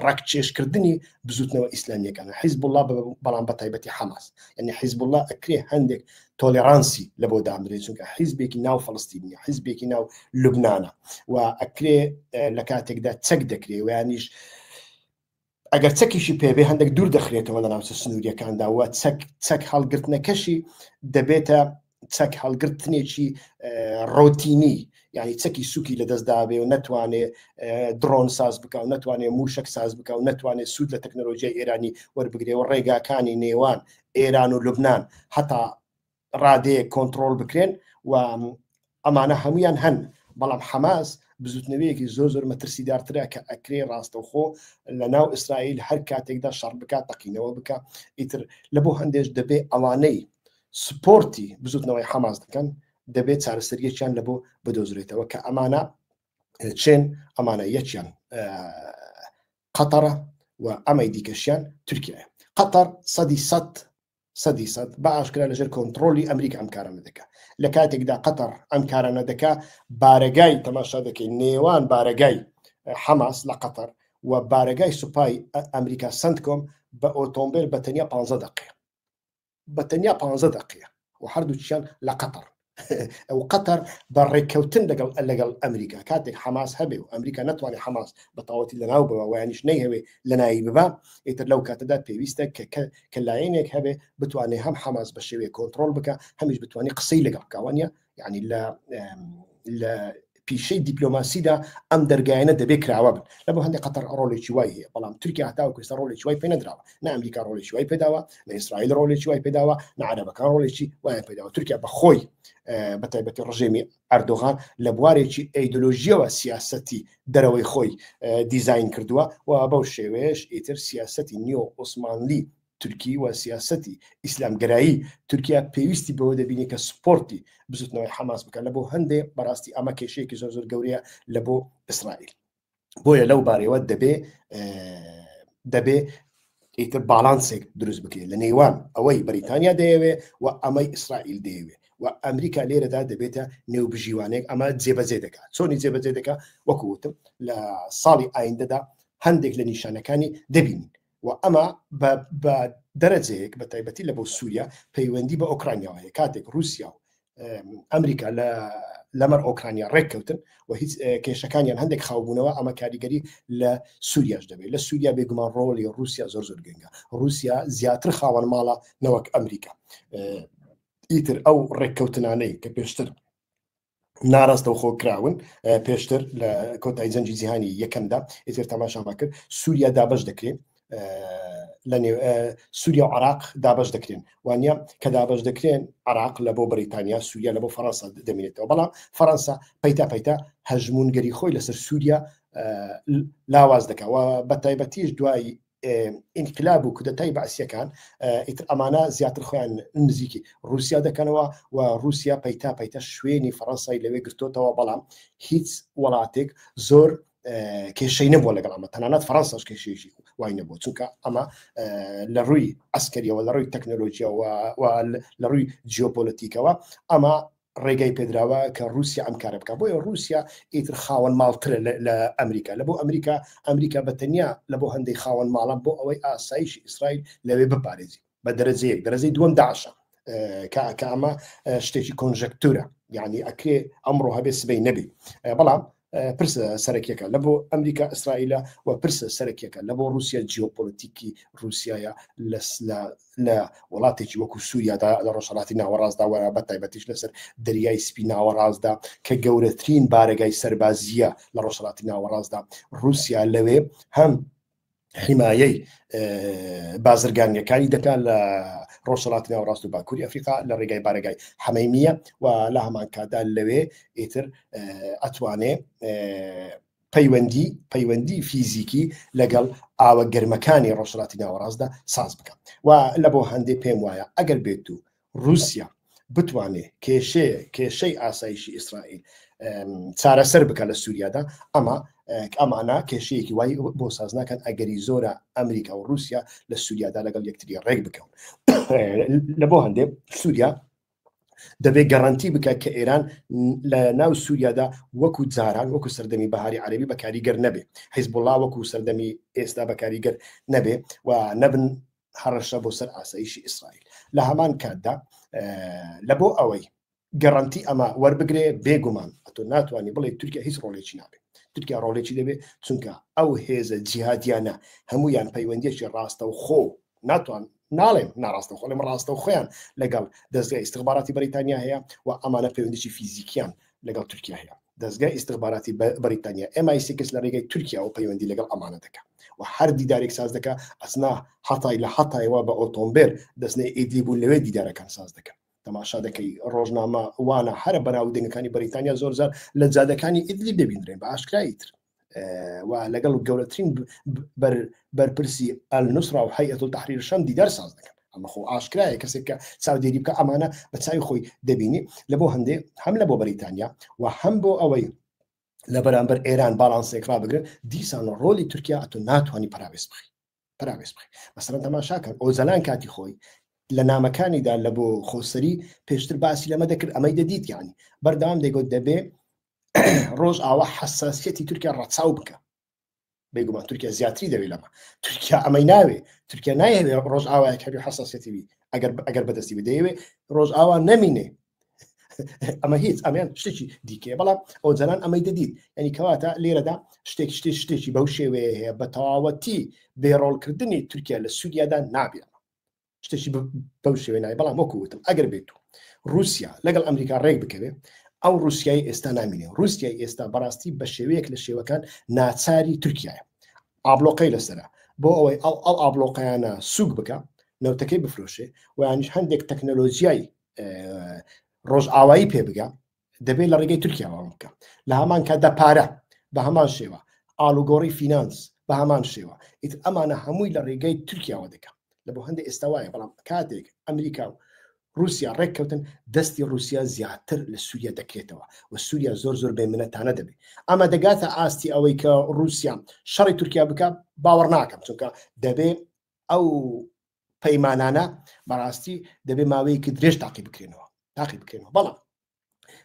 Speaker 1: ڕاکچێشکردنی بزوتنەوە ئیسلامیەکانە حیزب الله بەڵام بە تایبەتی حەماس ئەنی حیزب الله ئەکرێ هەندێک تۆلێڕانسی لە بۆ دامرێت چونکە حیزبێکی ناو فلستینی حیزبێکی ناو لوبناە و ئەکرێ لە کاتێکدا چەک دەکرێ ویانیش ئەگەر چەکیشی پێبێ هەندێک دوور دەخرێتەوە لە ناوچە سنووریەکاندا وە چەک چەک هەڵگرتنەکەشی دەبێتە چەک هەڵگرتنێکی ڕۆتینی یعنی چەکی سوکی لە دەستداابێ و نتوانێ درۆن ساز بک و نتوانێ موشک ساز بک و نتوانێت سوود لە تەکنۆلۆژیای ئێرانی وەربگرێ و ڕێگاکانی نێوان ئێران و لوبنان هەتا ڕادەیەک کۆنتترۆل بکرێن و ئەمانە هەمویان هەن بەڵام حەماس بزوتنەوەیەکی زۆر زۆر مەترسیدارترە کە ئەکرێ ڕاستەوخۆ لە ناو ئیسرائیل هەر کاتێکدا شەڕ بکات تەقینەوە بکە ئیتر لە بۆ هەندێش دەبێ ئەوانەی سپۆرتی بزوتنەوەی حەماس دەکەن دەبێت چارەسەریەکیان لە بۆ بدۆزرێتەوە کە ئەمانە چێن ئەمانە یەکیان قەتەرە و ئەمەی دیکەشیان تورکیایە. قەتەر سەدی سەد سەدی سەد بە ئاشکرا لەژێر کۆنتڕۆلی ئەمریکا ئەم کارانە دەکا. لە کاتێکدا قەتەر ئەم کارانە دەکا بارەگای تەماشا دەکەین نێوان بارەگای حەماس لە قەتەر و بارەگای سوپای ئەمریکا سنتکۆم بە ئۆتۆمبێل بە تەنیا 15 دەقەیە. بە تەنیا پ دقەیە و هەردووچیان لە قەتەر ئەو قەتەر بە ڕێککەوتن لەگەڵ لەگەڵ ئەمریکا کاتێک حەماس هەبێ و ئەمریکا نتوانێت حەماس بە تاوەتی لەناو بەوە وایانیش نەیهوێ لە ناوی ببا ئیتر لەو کاتەدا پێویستە کە کە لایەنێک هەبێ بتوانێت هەم حەماس بە شێوەیە کۆنتترۆل بکە هەمیش بتوانانی قسەی لەگەڵ کاوانە یعنی لە لە پیشەی دیپلۆماسیدا ئەم دەرگایانە دەبێ کراوە بن لە بۆ هەندی قەتەر ڕۆلێکی وای هەیە بەڵام تورکیا هەتاو کوێستا ڕۆلێکی وای پێ نەدراوە نە ئەمریکا ڕۆلێکی وای پێداوە لە ئیسرائیل ڕۆلێکی وای پێداوە نعرەبەکان ڕۆلێکی وای پێداوە تورکیا بەخۆی بە تایبەتی ڕژێمی ئەردۆغان لە بوارێکی ئەیدۆلۆژیەوە سیاستی دەرەوەی خۆی دیزین کردووە و بەو شێوەیەش ئیتر سیاستی نیۆ عوسمانلی تورکی و سیاسەتی ئیسلامگەرایی تورکیا پێویستی بەوە دەبینی کە سپۆرتی بزوتنەوەی حەماس بکە لە بۆ هەندێ بەڕاستی ئەمە کێشەیەکی زۆر زۆر گەورەیە لە بۆ ئیسرائیل بۆیە لەو بارەوە دەبێ دەبێ ئیتر باڵانسێک دروست بکرێت لە نێوان ئەوەی بەریتانیا دەیەوێ و ئەمەی ئیسرائیل دەیەوێ و ئەمریکا لێرەدا دەبێتە نێو بژیوانێک ئەمە جێبەجێ دەکات چۆنی جێبەجێ دەکە وەکوتم لە ساڵی ئایندەدا هەندێک لە نیشانەکانی دەبینین و ئەمە بە بە دەرەجەیەک بە تایبەتی لە بۆ سووریا پەیوەندی بە ئۆکرانیاوە هەیە کاتێک رووسیا و ئەمریکا لە لەمەر ئۆکرانیا ڕێککەوتن و هیچ کێشەکانیان هەندێک خاوبوونەوە ئەمە کاریگەری لە سووریاش دەبێت لە سووریا بێگومان ڕۆڵی رووسیا زۆر زۆر گەنگە رووسیا زیاتر خاوەن ماڵە نەوەک ئەمریکا ئیتر ئەو ڕێککەوتنانەی کە پێشتر ناراستەوخۆ کراون پێشتر لە کۆتای جەنجی جیهانی یەکەمدا ئێتر تەماشاما کرد سووریا دابش دەکرێت لە نێو سووریا و عراق دابش دەکرێن وانە کە دابش دەکرێن عراق لە بۆ بریتانیا سووریا لە بۆ فەرەنسا دەمێنێتەوە بەڵام فەرەنسا پەیتا پەیتا هەژمونگەری خۆی لەسەر سووریا لاواز دەکەوە بە تایبەتیش دوای ئینقلاب و کودەتای بەعسیەکان ئیتر ئەمانە زیاتر خۆیان نزیکی رووسیا دەکەنەوە و رووسیا پەیتا پەیتە شوێنی فەڕەنسای لەوێ گرتوتەوە بەڵام هیچ وڵاتێک زۆر کێشەی نەبووە لەگەڵ ئەمە تەنانەت فەرەنساش کێشێژی وای نەبوو چونکە ئەمە لە ڕووی ئەسکەریەوە لە ڕووی تەکنۆلۆژیەوە لە ڕووی جیۆپۆلەتیکەوە ئەمە ڕێگای پێدراوە کە رووسیا ئەم کارە بکە بۆیە رووسیا ئیتر خاوەن ماڵترە لە ئەمریکا لە بۆ ئەمریکا ئەمریکا بە تەنیا لە بۆ هەندێک خاوەن ماڵە بۆ ئەوەی ئاسایش ئیسرائیل لەوێ بپارێزی بە دەرەجەیەک دەرەجەی دووەم داعشە کاکە ئەمە شتێکی کۆنژەکتورە یعنی ئەکرێ ئەمڕۆ هەبێ سبەی نەبی بەڵام پرسە سەرەکیەکە لە بۆ ئەمریکا ئیسرائیلە و پرسە سەرەکیەکە لە بۆ رووسیا جیۆپۆلیتیکی رووسایە لە وڵاتێکی وەکو سووریادا لە ڕۆژهڵاتی ناوەڕاستدا وە بە تایبەتیش لەسەر دەریای سپی ناوەڕاستدا کە گەورەترین بارەگای سەربازیە لە ڕۆژهڵاتی ناوەڕاستدا رووسیا لەوێ هەم حیمایەی بازرگانیەکانی دەکات لە ڕۆژهڵات ناو ڕاست و باکووری ئەفریقا لە ڕێگای بارگای حەمەیمیە و لە هەمان کادا لەوێ ئیتر ئەتوانێ پەیوەندی پەیوەندی فیزیکی لەگەڵ ئاوە گەرمەکانی ڕۆژهڵاتی ناوەڕاستدا ساز بکەم و لە بۆ هەندێک پێم وایە ئەگەر بێت و رووسیا بتوانێ کێشەیە کێشەی ئاسایشی ئیسرائیل چارەسەر بکە لە سووریادا ئەمە ئەمانە کێشەیەکی وای بۆ ساز ناکەن ئەگەری زۆرە ئەمریکا و رووسیا لە سووریادا لەگەڵ یەکتری ڕێک بکەون لە بۆ هەندێک سووریا دەبێت گەڕنتی بکە کە ئێران لە ناو سووریادا وەکو جاران وەکو سەردەمی بەهاری عربی بەکاریگەر نەبێ حیزبڵا وەکو سەردەمی ئێستا بەکاریگەر نەبێ و نەبن هەڕەشە بۆ سەر ئاسایشی ئیسرائیل لە هەمان کاتدا لە بۆ ئەوەی گەڕنتی ئەمە وەربگرێ بێگومان ئەتۆ ناتوانانی بڵێ تورکیا هیچ ڕۆلێکی نابێت تورکیا ڕۆلێکی دەبێت چونکە ئەو هێزە جیهادیانە هەمویان پەیوەندێکی ڕاستە و خۆ ناتوان ناڵێم ناڕاستە خۆڵم ڕاستە و خۆیان لەگەڵ دەستگای استخباراتی بەریتانیا هەیە و ئەمانە پەیوەندیی فیزیکیان لەگەڵ تورکیا هەیە دەزگای ئیستخباراتی بەریتانیا ئێم ئای سیکس لە رێگەی تورکیاوە پەیوەندی لەگەڵ ئەمانە دەکا و هەر دیدارێک ساز دەکا ئەسنا حەتای لە حەتایەوە بە ئۆتۆمبێل دەستنەی ئیدی بوو لەوێ دیدارەکان ساز دەکەن تەماشا دەکەی ڕۆژنامە وانە هەرە بەناو دەنگەکانی بەریتانیا زۆرزار لە جادەکانی ئیدلی ببینرێن بە ئاشکرایی تر و لەگەڵ گەورەترین بەرپرسی ئەل نووسرا و حەیەت و تحریر شەم دیدار ساز دەکەن ئەمە خۆ ئاشکرایە کەسێک کە چاودێری بکە ئەمانە بە چاوی خۆی دەبینی لە بۆ هەندێ هەم لە بۆ بەریتانیا و هەم بۆ ئەوەی لە بەرامبەر ئێران باڵانسێک ڕابگرن دیسان ڕۆلی تورکیا ئەتو ناتوانانی پراوێز بخی پراوێز بخی مەسەرەن تەماشاکەن ئۆزەلان کاتی خۆی لە نامەکانیدا لە بۆ خۆسەری پێشتر باسی لەمە دەکرد ئەمەی دەدیت یانی بەردەوام دەگوت دەبێ ڕۆژ ئاوا حساسەتی تورکیا ڕەچاو بکە بێگومان تورکیا زیاتری دەوێت لەمە تورکیا ئەمەی ناوێ تورکیا نایەوێت ڕۆژ ئاوایە کەبی حساسەتیوی ئەگەر ئەگەر بەدەستی بدەیەوێ ڕۆژ ئاوا نەمینێ ئەمە هیچ ئەمیان شتێکی دیکەیە بەڵام ئەو جەنان ئەمەی دەدیت ینی کەواتە لێرەدا شتێک شتێک شتێکی بەو شێوەیە هەیە بە تەواوەتی بێڕۆڵکردنی تورکیا لە سووریادا نابێت شتێکی بەو شێوێ نای بەڵام وەکووتم ئەگەر بێت و رووسیا لەگەڵ ئەمریکا ڕێک بکەوێ ئەو رووسایی ئێستا نامینێ رووسای ئێستا بەڕاستی بە شێوەیەک لە شێوەکان ناچاری تورکایە ئابلۆقەی لەسرە بۆ ئەوەی ئەو ئەو ئابلۆقیانە سوک بکە نەوتەکەی بفرۆشێ وانیش هەندێک تەکنەلۆژیای ڕۆژئاوایی پێ بگە دەبێت لە ڕێگەی تورکیاوان بکە لە هەمان کاتدا پارە بە هەمان شێوە ئالوگۆڕی فینانس بە هەمان شێوە ئیت ئەمانە هەمووی لە ڕێگەی تورکیاوە دەکە لە بۆ هەندێک ئێستا وایە بەڵام کاتێک ئەمریکا و رووسیا ڕێککەوتن دەستی رووسیا زیاتر لە سووریا دەکرێتەوە و سووریا زۆر زۆر بێ منەتانە دەبێت ئەمە دەگاتە ئاستی ئەوەی کە رووسیا شەڕی تورکیا بکە باوەڕ ناکەم چونکە دەبێ ئەو پەیمانانە بەڕاستی دەبێ ماوەیەکی درێژ تاقی بکرێنەوە تاقی بکرێنەوە بەڵام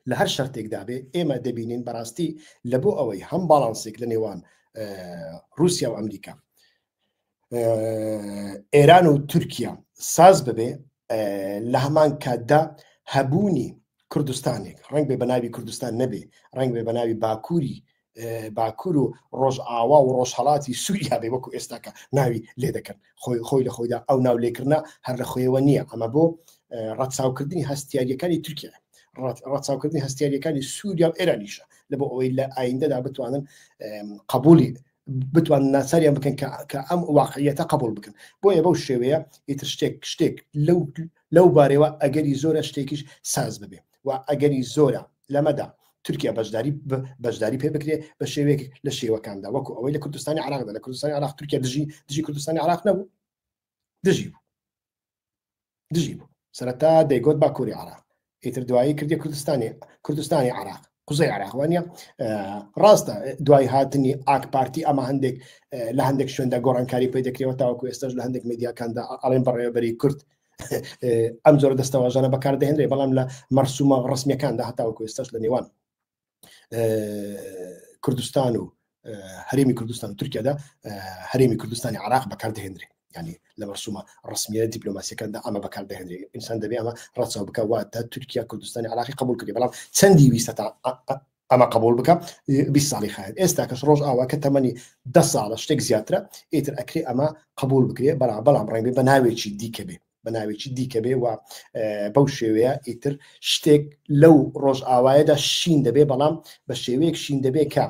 Speaker 1: لە هەر شەرتێکدا بێ ئێمە دەبینین بەڕاستی لە بۆ ئەوەی هەم باڵانسێک لە نێوان رووسیا و ئەمریکا ئێران و تورکیا ساز ببێ لە هەمان کاتدا هەبوونی کوردستانێک ڕنگ بێ بەناوی کوردستان نەبێ ڕنگ بێ بەناوی باکووری باکوور و ڕۆژئاوا و ڕۆژهڵاتی سووریا بێ وەکو ئێستاکە ناوی لێ دەکەن خۆی خۆی لە خۆیدا ئەو ناو لێکردە هەر لە خۆیەوە نییە ئەمە بۆ ڕەتساوکردنی هەستیاریەکانی تورکیا ڕەتساوکردنی هەستیاریەکانی سووریا و ئێرانیشە لە بۆ ئەوەی لە ئایندەدا بتوانن قبولی بتوان ناساریان بکەن کە ئەم واقعیەتە قبول بکەن بۆیە بەو شێوەیە ئیتر شتێک شتێک لەو لەو بارەوە ئەگەری زۆرە شتێکیش ساز ببێ و ئەگەری زۆرە لەمەدا تورکیا بەشداری بەشداری پێ بکرێ بە شێوێک لە شێوەکاندا وەکو ئەوەی لە کوردستانی عراقدا لە کوردستانی عراق تورکیا دژی دژی کوردستانی عراق نەبوو دژی بوو دژی بوو سەرەتا دەیگوت با کوری عراق ئیتر دوایی کردی کوردستانی کوردستانی عراق قوزەی عراقوانە ڕاستە دوای هاتنی ئاک پارتی ئەمە هەندێک لە هەندێک شوێندا گۆڕانکاری پێ دەکرێەوە تاوەکو ئێستش لە هەندێک میدیاکاندا ئەڵێن بەڕێوەبەری کورد ئەم جۆرە دەستەواژانە بەکاردەهێنرێ بەڵام لە مەرسومە ڕسمەکاندا هەتاوە کوێستەش لە نێوان کوردستان و هەرێمی کوردستان و تورکیادا هەرێمی کوردستانی عراق بەکاردەهێنرێ ینی لە مەرسومە ڕسمیە دیپلۆماسیەکاندا ئەمە بەکار دەهێنێ ئینسان دەبێ ئەمە ڕەچەوە بکە واتە تورکیا کوردستانی عراقی قبول کردی بەڵام چەندی ویستە تا ئەمە قبوڵ بکە بیست ساڵی خایەن ئێستا کەس ڕۆژ ئاوا کە تەمەنی دە ساڵە شتێک زیاترە ئیتر ئەکرێ ئەمە قبول بکرێ بەڵا بەڵام ڕێنبێ بە ناوێکی دیکە بێ بە ناوێکی دیکە بێ و بەو شێوەیە ئیتر شتێک لەو ڕۆژ ئاوایەدا شین دەبێ بەڵام بە شێوەیەک شین دەبێ کە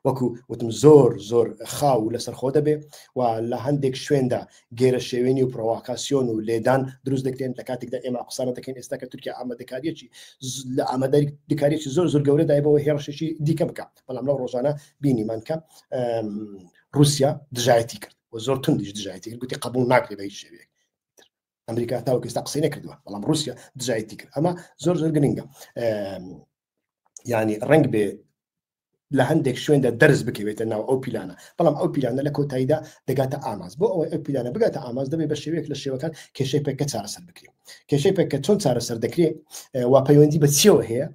Speaker 1: وەکو وتم زۆر زۆر خاو و لەسەرخۆ دەبێ و لە هەندێک شوێندا گێرە شێوێنی و پرۆواکاسیۆن و لێدان دروست دەکرێن لە کاتێکدا ئێمە قسانە دەکەین ئێستا کە تورکیا ئامادەکاریەکی لە ئاماداری دکارێکی زۆر زۆر گەورە دایبەوە هێڕشێکی دیکە بکە بەڵام لەو ڕۆژانە بینیمان کە رووسیا دژایەتی کرد و زۆر تندیش دژایەتی کرد گوتی قبول ناکرێت بە هیچ شێوێک ئەمریکا تاوکەستا قسەی نەکردووە بەڵام رووسیا دژایەتی کرد ئەمە زۆر زۆر گرنگە ینی ڕنگ بێ لە هەندێک شوێندا دەرز بکەوێتە ناو ئەو پیلانە بەڵام ئەو پیلانە لە کۆتاییدا دەگاتە ئاماز بۆ ئەوەی ئەو پیلانە بگاتە ئاماز دەبێت بە شێوەیەک لە شێوەکان کێشەی پێکە چارەسەر بکرێت کێشەی پێکە چۆن چارەسەر دەکرێت وا پەیوەندی بە چیەوە هەیە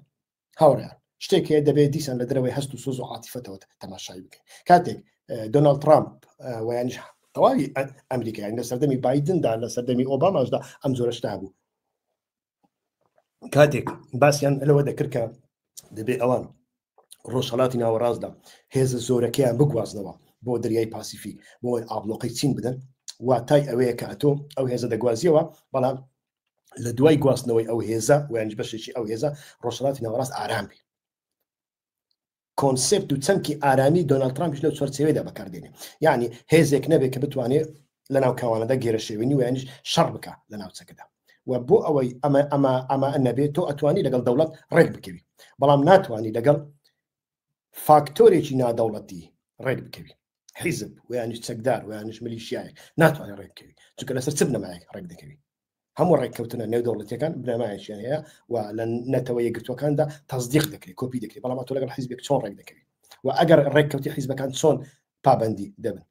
Speaker 1: هاوڕیان شتێک هەیە دەبێت دیسان لە درەوەی هەست و سۆز و عاتیفەتەوە تەماشایی بکەین کاتێک دۆناالد ترامپ ویانش تەواوی ئەمریکایان لە سەردەمی بادندا لە سەردەمی ئۆباماشدا ئەم زۆرەشتا بوو کاتێک باسییان لەوە دەکرد کە دەبێ ئەوان ڕۆژهڵاتی ناوەڕاستدا هێزە زۆرەکەیان بگوازنەوە بۆ دەریای پاسیفی بۆی ئابلۆقەی چین بدەن واتای ئەوەیە کە ئەتۆ ئەو هێزە دەگوازیەوە بەڵام لە دوای گواستنەوەی ئەو هێزە ویانج بەشێکی ئەو هێزە ڕۆژهڵاتی ناوەڕاست ئارام بێ کۆنسێپت و چەمکی ئارامی دۆناڵد ترامپیش لەو چوارچێوەیەدا بەکاردێنێ یعنی هێزێک نەبێت کە بتوانێت لە ناوکاوانەدا گێرەشێوێنی ویانیش شەڕ بکە لە ناوچەکەدا و بۆ ئەوەی ئەمە ئەمە ئەمە نەبێت تۆ ئەتوانی لەگەڵ دەوڵەت ڕێک بکەوی بەڵام ناتوانانی لەگەڵ فاکتۆرێکی نادەوڵەتی ڕێک بکەوی حیزب ویانیش چەکدار ویانش ملیشیایە ناتوانێت ڕێککەوی چونکە لەسەر چ بنەمایەک ڕێک دەکەوی هەموو ڕێککەوتنە نێودەوڵەتەکان بنەمایەکیان هەیە و لە نەتەوە یەکگرتوەکاندا تەزدیق دەکرێت کۆپی دەکرێت بەڵام تۆ لەگەڵ حیزبێک چۆن ڕێک دەکەوێت و ئەگەر ڕێککەوتی حیزبەکان چۆن پابندی دەبن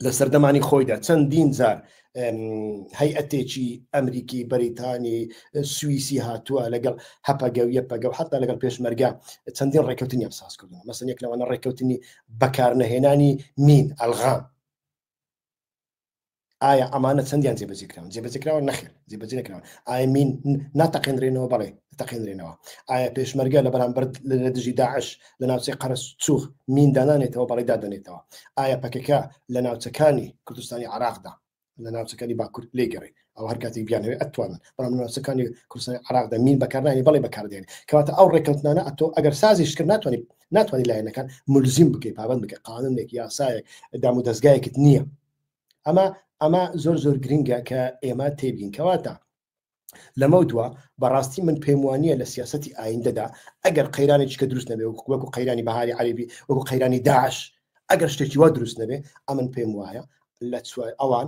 Speaker 1: لە سەردەمانی خۆیدا چەندین جار هەیئەتێکی ئەمریکی بەریتانی سوئیسی هاتووە لەگەڵ هەپەگە و یەپەگە و حتا لەگەڵ پێشمەرگە چەندین ڕێککەوتنی ئەم ساز کردن مەسن یەک لەوانە ڕێککەوتنی بەکارنەهێنانی مین ئەلغام ئایا ئەمانە چەندیان جێبەجێ کراون جێبەجێ کراوە نەخێر جێبەجێ نەکراون ئایا مین ناتەقێنرێنەوە بەڵێ تەقێنرێنەوە ئایا پێشمەرگە لە بەرامبەر لە دژی داعش لە ناوچەی قەرس چوخ مین دانانێتەوە بەڵێ دادەنێتەوە ئایا پەکەکە لە ناوچەکانی کوردستانی عراقدا لە ناوچەکانی باکورد لێگەڕێ ئەو هەر کاتێک بیانەوێت ئەتوانن بەڵام ناسەکانی کوردستانی عراقدا مین بەکارنانی بەڵێ بەکاردێن کەواتە ئەو ڕێککەوتنانە ئەتۆ ئەگەر سازیش کرد ناتوانانی ناتوانانی لایەنەکان ملزیم بکەیت پابند بکە قانونێک یاسایەک دام و دەستگایەکت نییە ئەمە ئەمە زۆر زۆر گرنگە کە ئێمە تێبین کەواتە لەمە دووە بەڕاستی من پێم وانە لە سیاستی ئایندەدا ئەگەر قەیرانی چکە دروست نەبێ وەکو قەیرانی بەهاری عەربی وەکو قەیرانی داعش ئەگەر شتێکی وا دروست نەبێ ئەمن پێم وایە لە ئەوان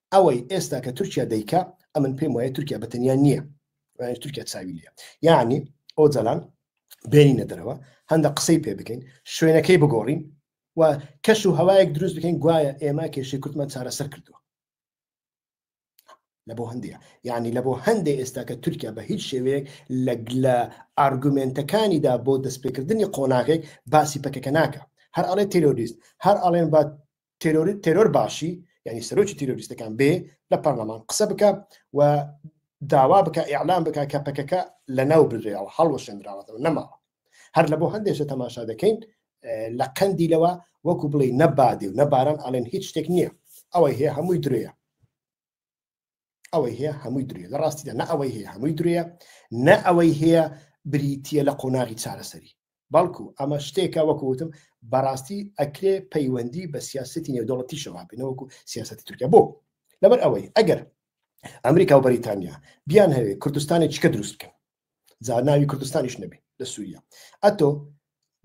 Speaker 1: ئەوەی ئێستا کە تورکیا دەیکا ئەمن پێم وایە تورکیا بەتەنیا نییە تورکیا چاوی لە یعنی ئەو جەلان بێنینە دەرەوە هەندە قسەی پێ بکەین شوێنەکەی بگۆڕین و کەش و هەوایەک دروست بکەین گوایە ئێمە کێشی کوردمان چارەسەر کردووە لە بۆ هەندێک یعنی لە بۆ هەندێک ئێستا کە تورکیا بە هیچ شێوەیەک لە لە ئارگومنتەکانیدا بۆ دەستپێکردنی قۆناغێک باسی پەکەکە ناکە هەر ئەڵێ تیرۆریست هەر ئەڵێن با تێرۆری تێرۆر باشی یعنی سەرۆکی تیرۆریستەکان بێ لە پەرلەمان قسە بکە و داوا بکە ئیعلام بکە کە پەکەکە لە ناو بزێەوە هەڵوەشێنراوەتەوە نەماوە هەر لە بۆ هەندێشە تەماشا دەکەین لە قەندی لەوە وەکو بڵێ نەبادێ و نەباران ئەڵێن هیچ شتێک نییە ئەوەی هەیە هەمووی درێە ئەوەی هەیە هەمووی درێ لە ڕاستیدا نە ئەوەی هەیە هەمووی درێ نە ئەوەی هەیە بریتە لە قۆناغی چارەسەری بەڵکو ئەمە شتێکە وەکوتم بەڕاستی ئەکرێ پەیوەندی بە سیاستی نێودەوڵەتی شەوابنەوەکو سیاستی تورکیا بۆ لەبەر ئەوەی ئەگەر ئەمریکا و بەریتانیا بیان هەوێ کوردستانی چکە دروست بکەن جا ناوی کوردستانیش نەبی لە سووریا ئەتۆ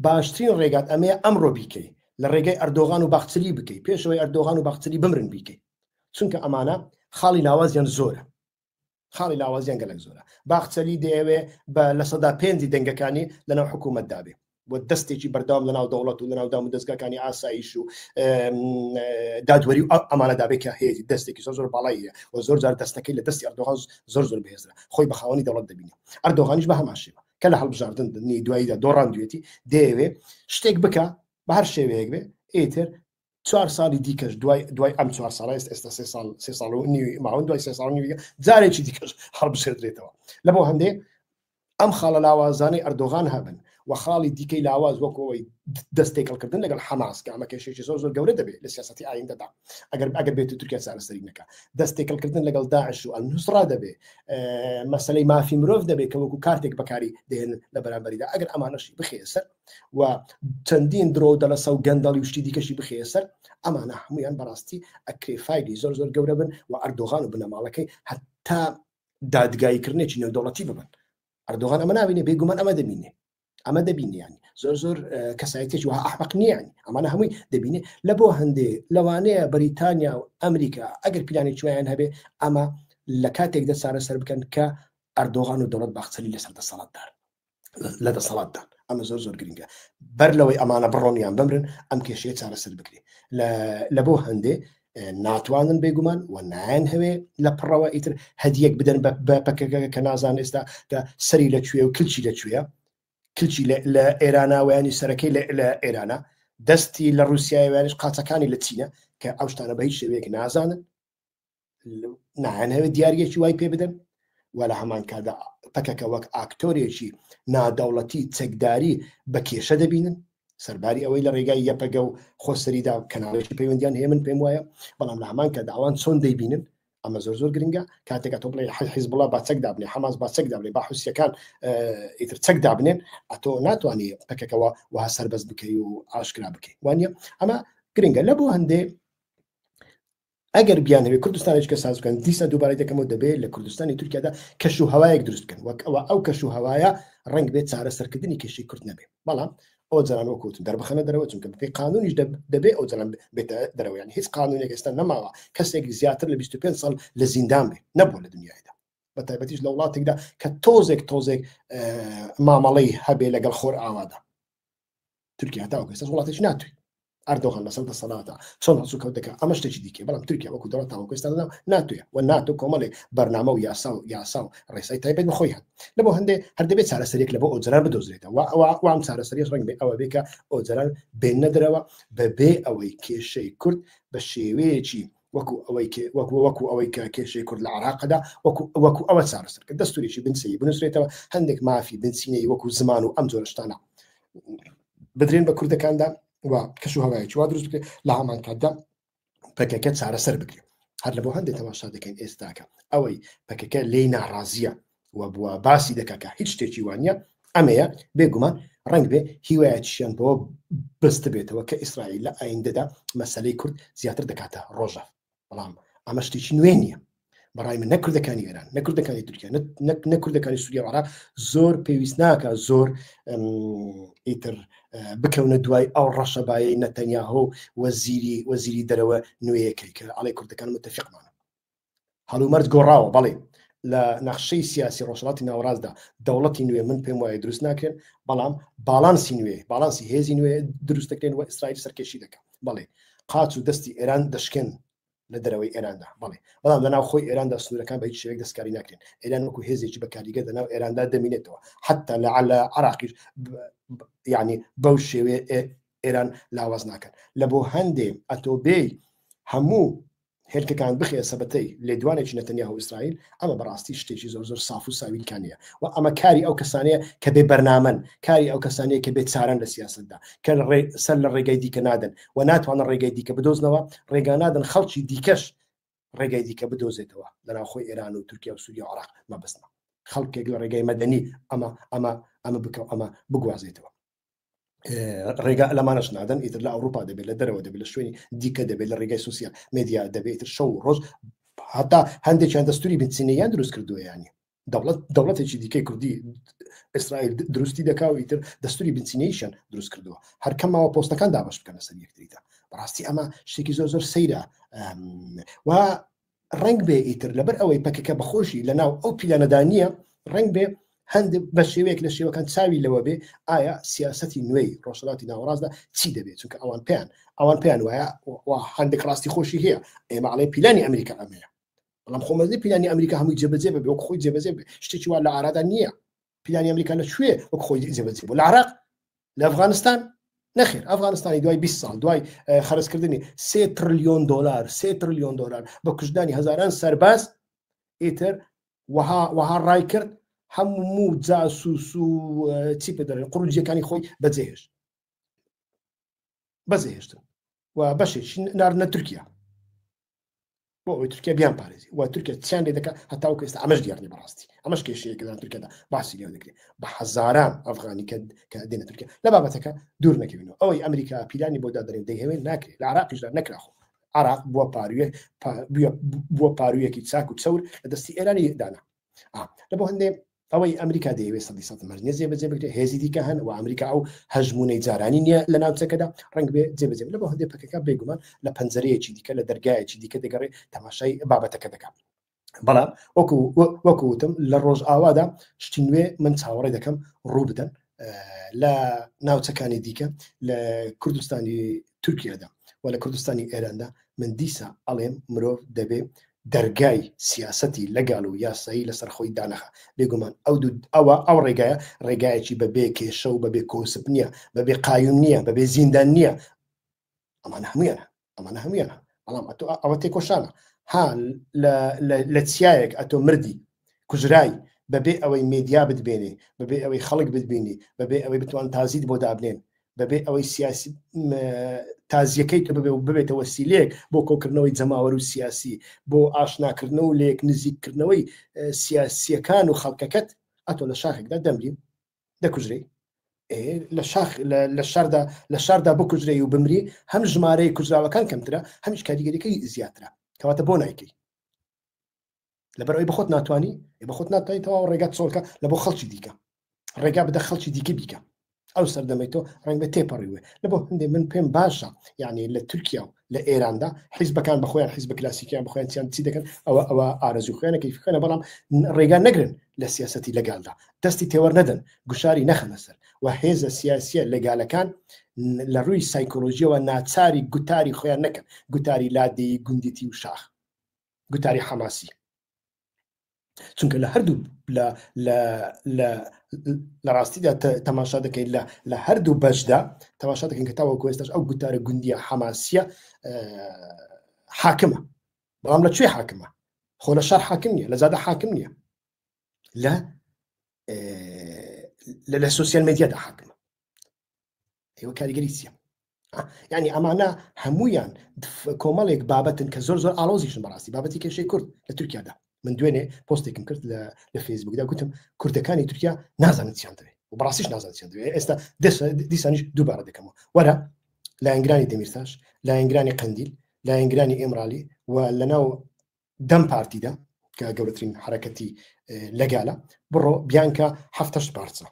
Speaker 1: باشترین ڕێگات ئەمەیە ئەمڕۆ بیکەی لە ڕێگەی ئەردۆغان و باخچلی بکەی پێشەوەی ئەردۆغان و باخچلی بمرن بیکەی چونکە ئەمانە خاڵی لاوازیان زۆرە خاڵی لاوازیان گەلک زۆرە باخچەلی دەیەوێ بە لە سەدا پێنجی دەنگەکانی لەناو حکوومەت دابێ و دەستێکی بەردەوام لە ناو دەوڵەت و لە ناو دام و دەستگاکانی ئاسایش و دادوەری و ئەمانەدابێت کە هەیەی دەستێکی زۆر زۆر باڵاییە و زۆر جار دەستەکەی لە دەستی ئەردۆغان زۆر زۆر بهێزرا خۆی بە خاوەنی دەوڵەت دەبینە ئەردۆغانیش بە هەماشێوە کە لە هەڵبژاردن دنی دواییدا دۆڕاندوێتی دەیەوێ شتێک بکە بە هەر شێوەیەک بێ ئیتر چوار ساڵی دیکەش دوای دوای ئەم چوار ساڵ ئێست ئێستا سێ ساڵ سێ ساڵ و نیوی ماون دوای سێ ساڵ نیویگە جارێکی دیکەش هەڵبژێدرێتەوە لە بۆ هەندێ ئەم خاڵە لاوازانەی ئەردۆغان هەبن و خاڵی دیکەی لاواز وەکەوەی دەستێکەڵکردن لەگەڵ حەماس کە ئەمە کێشێکی زۆر زۆر گەورە دەبێت لە سیاستی ئایندەدا ئەگەر ئەگەر بێت و تورکیا چارەسەری نەکە دەستێکەڵکردن لەگەڵ داعش و ئەلنووسرا دەبێت مەسلەی مافی مرۆڤ دەبێت کە وەکو کارتێک بەکاری دێن لە بەرامبەریدا ئەگەر ئەمانەشی بخێسەر و چەندین درۆ و دەلەسە و گەندەڵی وشتی دیکەشی بخەیە سەر ئەمانە هەمویان بەڕاستی ئەکرێ فایلی زۆر زۆر گەورە بن و ئەردۆغان و بنەماڵەکەی هەتا دادگاییکردنێکی نێودوڵەتی ببن ئەردۆغان ئەمە ناوینێ بێگومان ئەمە دەبینێ ئەمە دەبینیان زۆر زۆر کەسایەتێک وە ئەحمەق نییان ئەمانە هەمووی دەبینێ لە بۆ هەندێ لەوانەیە بەریتانیا و ئەمریکا ئەگەر پیلانی چویان هەبێ ئەمە لە کاتێک دە چارەسەر بکەن کە ئەردۆغان و دەوڵەت باخچەلی لەسەر دەسەڵاتدار لە دەسەڵاتدان ئەمە زۆر زۆر گرنگە بەر لەوەی ئەمانە بڕۆنیان بمرن ئەم کێشەیە چارەسەر بکرێ لە بۆ هەندێ ناتوانن بێگومان و نایەن هەوێ لە پڕەوە ئیتر هەدیەک بدەن بە پەکەکە کە نازان ئێستا کە سەری لە کوێ و کلچی لە کوێە کلچی لە ئێراناوەیانی سەرەکەی لە ئێرانە دەستی لە رووسایوانش قاچەکانی لە چینە کە ئەو شتانە بە هیچ شێوەیەک نازانن ناهێنەوێت دیارگەکی وای پێ بدەن و لە هەمان کادا پەکەکە وەک ئاکتۆرێکی نادەوڵەتی چەکداری بە کێشە دەبینن سەرباری ئەوەی لە ڕێگای یەپەگە و خۆسەریدا کەناڵێکی پەیوەندیان هێمن پێم وایە بەڵام لە هەمان کە داوان چۆن دەیبینن ئەمە زۆر زۆر گرنگە کاتێکە تۆ بڵێ حل حیز بڵە باچەک دابنێ حماس باچەک دابێ با حوسەکان ئیتر چەک دابنێن ئەتۆ ناتوانانی پەکەکەەوە وها سربەست بکەی و ئاشکرا بکەیت وانە ئەمە گرنگە لە بۆ هەندێ ئەگەر بیان هەوێ کوردستانێک کە ساز بکەن دیسە دووبارەی دەکەمەوە دەبێت لە کوردستانی تورکیادا کەش و هەوایەک دروست بکەن وەک ئەوە ئەو کەش و هەوایە ڕنگ بێت چارە سەرکردنی کێشی کورد نەبێت بەڵام ئەو جارانەوە کوتن دەربخەنە دەرەوە چونکە بپی قانونیش دەبێ ئەو جران بێتە دەرەوەیان هیچ قانونێک ئێستا نەماوە کەسێک زیاتر لە 25 سال لە زیندان بێ نەبوو لە دنیادا بە تایبەتیش لە وڵاتێکدا کە تۆزێک تۆزێک مامەڵەی هەبێ لەگەڵ خۆر ئاوادا تورکیا هەتا وەکو سەر وڵاتێکی ناتوی ئەردۆغان لەسەر دەسەڵاتە چۆن هەسو کەوت دەکە ئەمە شتێکی دیکە بەڵام تورکیا وەکو دەڵەت تاوەکوێستا دەدام ناتوێ و ناتۆ کۆمەڵێ بەرنامە و یاسا و یاسا و ڕێسای تایبەت بخۆی هەن لە بۆ هەندێ هەر دەبێت چارەسەرێک لە بۆ ئۆجران بدۆزرێتەوە ئەوە وام چارەسەری ڕنگ بێ ئەوە بێکە ئۆجران بێنە درەوە بەبێ ئەوەی کێشەی کورد بە شێوەیەکی وەکو ئەوەی کێ وەکو وەکو ئەوەی کە کێشەی کورد لە عراقدا وەکو وەکو ئەوە چارەسەر کە دەستوریی بنچەیی بنووسرێتەوە هەندێک مافی بنچینەی وەکو زمان و ئەم جۆرە شتانە بدرێن بە کوردەکاندا و کەش و هەوایەکی وا دروست بکرێت لە هەمان کاتدا پەکەکە چارەسەر بکرێت هەر لە بۆ هەندێک تەماشا دەکەین ئێستاکە ئەوەی پەکەکە لێی ناڕازیە و بووە باسی دەکا کە هیچ شتێکی وا نیە ئەمەیە بێ گومان ڕەنگ بێ هیوایەتشیان بەوە بەستە بێتەوە کە ئیسرائیل لە ئایندەدا مەسەلەی کورد زیاتر دەکاتە ڕۆژە بەڵام ئەمە شتێکی نوێ نییە بەڕای من نەکردەکانی ئێران نەکردەکانی تورکیا نەکردەکانی سووریە وارا زۆر پێویست ناکە زۆر ئیتر بکەونە دوای ئەو ڕەشەبایی نەتەنیاهۆ وەزیری وەزیری دەرەوە نوێیەکەی کە ئەڵێ کوردەکان متتەفقمانە هەڵومەرج گۆڕاوە بەڵێ لە نەخشەی سیاسی ڕۆژڵاتی ناوەڕاستدا دەوڵەتی نوێ من پێم وایە دروست ناکرێن بەڵام باڵانسی نوێ باڵانسی هێزی نوێ دروست دەکرێن و ئیسرائیل سەرکێشی دەکەن بەڵێ قاچ و دەستی ئێران دەشکێن لە دەرەوەی ئێراندا بڵێ بەڵام لە ناوخۆی ئێراندا سنوورەکان بە هیچ شێوەیەک دەستکاری ناکرێن ئێران وەکو هێزێکی بە کاریگە لە ناو ئێراندا دەمینێتەوە حتا لە علا عراقیش یعنی بەو شێوێ ئێران لاواز ناکەن لە بۆ هەندێ ئەتۆبێی هەموو هێلکەکان بخەیە سەبەتەی لێدوانێکی نەتەنیاهو ئیسرائیل ئەمە بەڕاستی شتێکی زۆر زۆر ساف و ساویلکانە و ئەمە کاری ئەو کەسانەیە کە بێ بەرنامەن کاری ئەو کەسانەیە کە بێ چارەن لە سیاستدا کە سەر لە ڕێگای دیکە نادەن و ناتوانە ڕێگای دیکە بدۆزنەوە ڕێگا نادەن خەڵکی دیکەش ڕێگای دیکە بدۆزێتەوە لەناوخۆی ئێران و تورکیا و سووریا عراق مەبستنە خەڵکێک لە ڕێگای مەدەنی ئەمە ئەمە ئەمە بکە ئەمە بگوازێتەوە ڕێگا لەمانەش نادەن ئیتر لە ئەوروپا دەبێت لە دەرەوە دەبێت لە شوێنی دیکە دەبێت لە ڕێگای سوسیال مدیا دەبێت شەو ڕۆژ هەتا هەندێکیان دەستوری بنچینەیان دروست کردویانی دەوڵەت دەوڵەتێکی دیکەی کوردی ئیسرائیل دروستی دەکا و ئیتر دەستوری بنچینەیشن دروست کردووە هەرکەمەوە پۆستەکان دابش بکەنە سەر یەکتریدا بەڕاستی ئەمە شتێکی زۆر زۆر سەیرە و ڕەنگ بێ ئیتر لەبەر ئەوەی پەکەکە بەخۆشی لە ناو ئەو پیلانەدا نییە ڕەنگ بێ هەند بە شێوەیەک لە شێوەکان چاوی لەوە بێ ئایا سیاستی نوێی ڕۆژهڵاتی ناوەڕاستدا چی دەبێت چونکە ئەوان پێیان ئەوان پێیان وایە هەندێک ڕاستی خۆشی هەیە ئێمە ئاڵێ پیلانی ئەمریکا ئەمەیە بەڵام خۆمەزی پیلانی ئەمریکا هەمووی جێبەجێ بە بۆک خۆی جێبەجێ شتێکی وا لە ئارادا نییە پلانی ئەمریکا لە کوێ وەک خۆی جێبەجێ بوو لە عراق لە ئەفغانستان نەخێر ئەفغانستانی دوای 20 ساڵ دوای خەرزکردنی سێ تریلیۆن دلار سێ تریلیۆن دلار بە کوژدانی هزاران سەرباز ئیتر وەها وەها ڕای کرد هەموو جاسوس و چی پێدەێن قڕجیەکانی خۆی بەجێهێش بەجێهێشتن و بەشێک ناردنە تورکیا بۆ ئەوی تورکیا بیان پارێزی و تورکیا چیان لێ دەکە هەتا و کەستا ئەمەش دیارنی بەڕاستی ئەمەش کێشەیە کەدان تورکیادا باسی لێ دەکرێت بە حەزاران ئەفغانی کرد کە دێنە تورکیا لە بابەتەکە دوور نەکەوینەوە ئەوەی ئەمریکا پیلانی بۆ دادرێن دەیهوێن ناکرێت لە عراقیشدا نەکراخۆ عراق بووە پاروێ بووە پارویەکی چاک و چەور لە دەستی ئێرانی دانا لە بۆ هەندێ ئەوەی ئەمریکا دەیەوێ سەدی سە مەرج نیە جێبەجێ بکرێ هێزی دیکە هەن و ئەمریکا ئەو هەژمونەی جارانی نیە لە ناوچەکەدا ڕنگ بێ جێبەجێ لە بۆ هەندێ پەکەکە بێگومان لە پەنجەرەیەکی دیکە لە دەرگایەکی دیکە دەگەڕێ تەماشای بابەتەکە دەکات بەڵام وەکو وەکوتم لە ڕۆژ ئاوادا شتی نوێ من چاوەڕێ دەکەم ڕوو بدەن لە ناوچەکانی دیکە لە کوردستانی تورکیادا و لە کوردستانی ئێراندا من دیسا ئەڵێم مرۆڤ دەبێ دەرگای سیاسەتی لەگال و یاسایی لەسەر خۆی دانەخا بێگومان ئەو دوو ئەوە ئەو ڕێگایە ڕێگایەکی بە بێ کێشە و بە بێ کۆسپ نییە بە بێ قایم نییە بە بێ زیندان نییە ئەمانە هەمویان ئەمانە هەمویان بەڵام ئەتۆ ئەوە تێکۆشانە ها لە چیایەک ئەتۆ مردی کوژرای بەبێ ئەوەی مێدیا بتبێنێ بەبێ ئەوەی خەڵک بتبینی بەبێ ئەوەی بتوان تازیت بۆ دابنێن بەبێ ئەوەی سیاسی تازیەکەی کە ببێ و ببێتە وەسیلەیەک بۆ کۆکردنەوەی جەماوەر و سیاسی بۆ ئاشناکردن و لێک نزیککردنەوەی سیاسیەکان و خەڵکەکەت ئەتۆ لە شاخێکدا دەمرین دەکوژرەی لە شاخ لە شاردا لە شاردا بکوژرەی و بمری هەم ژمارەی کوژراوەکان کەمترە هەمیش کاریگەریەکەی زیاترە کەواتە بۆ نایکەی لەبەر ئەوی بەخۆت ناتوانانی ئێ بەخۆت ناتوانانی تەواو ڕێگات چۆڵکە لە بۆ خەڵکی دیکە ڕێگا بدە خەڵکی دیکە بیکە ئەو سەردەمەی تۆ ڕنگ بە تێپەڕیوێ لە بۆ هەندێ من پێم باشە یعنی لە تورکیا و لە ئێراندا حیزبەکان بەخۆیان حیزب کلاسیکیان بخۆیان چیان چی دەکەن ئەوە ئەوە ئارەزوو خوێنە کەی خوێنە بەڵام ڕێگا نەگرن لە سیاستی لەگالدا دەستی تێوەەر نەدەن گوشاری نەخەنە سەر و هێزە سیاسیە لەگالەکان لە ڕووی سایکۆلۆژیەوە ناچاری گوتاری خۆیان نەکەن گوتاری لادێی گوندیتی و شاخ گوتاری حەماسی چونکە لە هەردوو لە ڕاستیدا تەماشا دەکەین لە هەردوو بەشدا تەماشا دەکەین کە تاوە کوێستش ئەو گوتارە گوندیە حەماسیە حاکمە بەڵام لە کوێ حاکمە خۆ لە شار حاکم نیە لە زیادە حاکم نیە لە لە سوسیال مدیادا حاکمە ئێوە کاریگەری چیە ینی ئەمانە هەمویان کۆمەڵێک بابەتن کە زۆر زۆر ئالۆزیشن بەڕاستی بابەتی کێشەی کورد لە تورکیادا من دوێنێ پۆستێکم کرد لە فەیسبوکدا گوتم کوردەکانی تورکیا نازانن چیان دەوێت و بەڕاستیش نازان چیان دەوێت ئێستا دیسانیش دووبارە دەکەمەوە وەرە لایەنگرانی دەمیرتاش لایەنگرانی قندیل لایەنگرانی ئێمرالی و لەناو دەم پارتیدا کە گەورەترین حرەکەتی لەگالە بڕۆ بیانکە هەفتش پارچە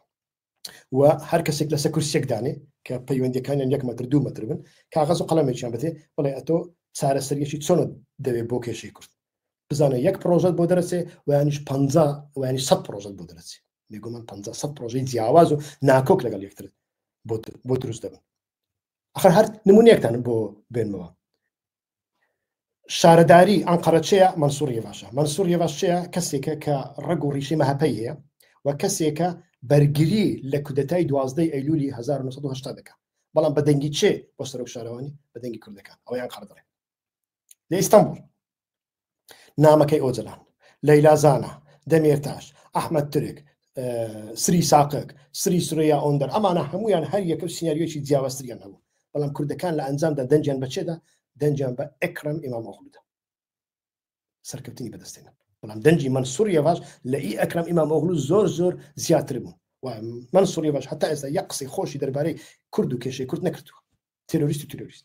Speaker 1: و هەر کەسێک لەسەر کورسێک دانێ کە پەیوەندەکانیان یەک مەتر دوو مەتر بن کاغەز و قەڵەمێکیان بێ بڵێ ئەتۆ چارەسەریەکی چۆن دەوێ بۆ کێشەی کورد بزانە یەک پرۆژەت بۆ دەرەچێ ویانیش پ ویانی سە پرۆژەت بۆ دەرەچێ میگومان پ سە پرۆژەی جیاواز و ناکۆک لەگەڵ یەکتر بۆ دروست دەبن ئەخر هەر نمونونێکتان بۆ بێنەوە شارەداری ئەنقەرە چێە مەنسووری باشە مەنسووری باش چێە کەسێکە کە ڕگ و ڕیشی مەهپەی هەیە و کەسێکە بەرگری لە کودەتای دوازدەی ئەیلولی 1970 دەکە بەڵام بە دەنگی چێ بۆ سەرۆک شارەوانی بە دەنگی کوردەکان ئەویان قەردڕێ لە ئیستانبول نامەکەی ئۆجەلان لەیلا زانا دەمێرتاش ئەحمد ترک سری ساقک سری سرەیە ئۆندەر ئەمانە هەمویان هەر یەکە سینناریۆکی جیاوازتریان هەبوو بەڵام کوردەکان لە ئەنجامدا دەنجیان بەچێدا دەنجیان بە ئەکرم ئیمام ئۆخلودا سەرکەوتنی بەدەستێنە بەڵام دەنجی من سووریە باش لە ئی ئەکرم ئیمام ئۆغلو زۆر زۆر زیاتر بوو من سووریە باش هەتا ئێستا یە قسەی خۆشی دەربارەی کورد و کێشەی کورد نەکردووە تروریست و تروریست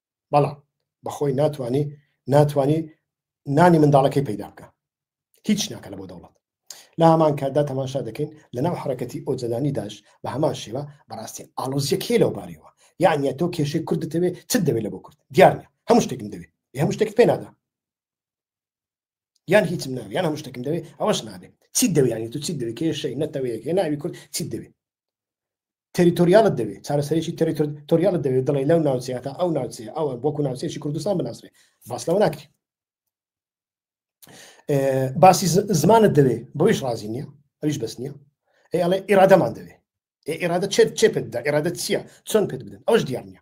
Speaker 1: بەڵام بەخۆی ناتوانانی ناتوانانی نانی منداڵەکەی پەیدا بکە هیچ ناکە لە بۆ دەوڵەت لە هەمان کاتدا تەماشا دەکەین لە ناو حرەکەتی ئۆجەلانی داش بە هەمان شێوە بەڕاستی ئالۆزیەکەی لەو بارەوە یعنی تۆ کێشەی کورد دەتەوێ چ دەوێت لە بۆ کورد دیارە هەموو شتێکم دەوێت هەموو شتێک پێ نادا یان هیچم ناوێ یان هەموو شتێکم دەوێت ئەوەش نابێت چی دەوێت ینی تو چی دەوێت کێشەی نەتەوەیەکێ ناوی کورد چی دەوێت تێریتۆریالت دەوێ چارەسەرێکی تێریتۆریالت دەوێت دڵێ لەو ناوچەیە تا ئەو ناوچەیە ئەوە بۆکو ناوچەیەکی کوردستان بناسرێ باس لەوە ناکرێت باسی زمانت دەوێ بۆیش ڕازی نییە ئەویش بەس نییە ئێ ئەڵێ ئێرادەمان دەوێ ئێرادە چێت چێ پێتدا ئێرادە چییە چۆن پێت بدەن ئەوش دیار نییە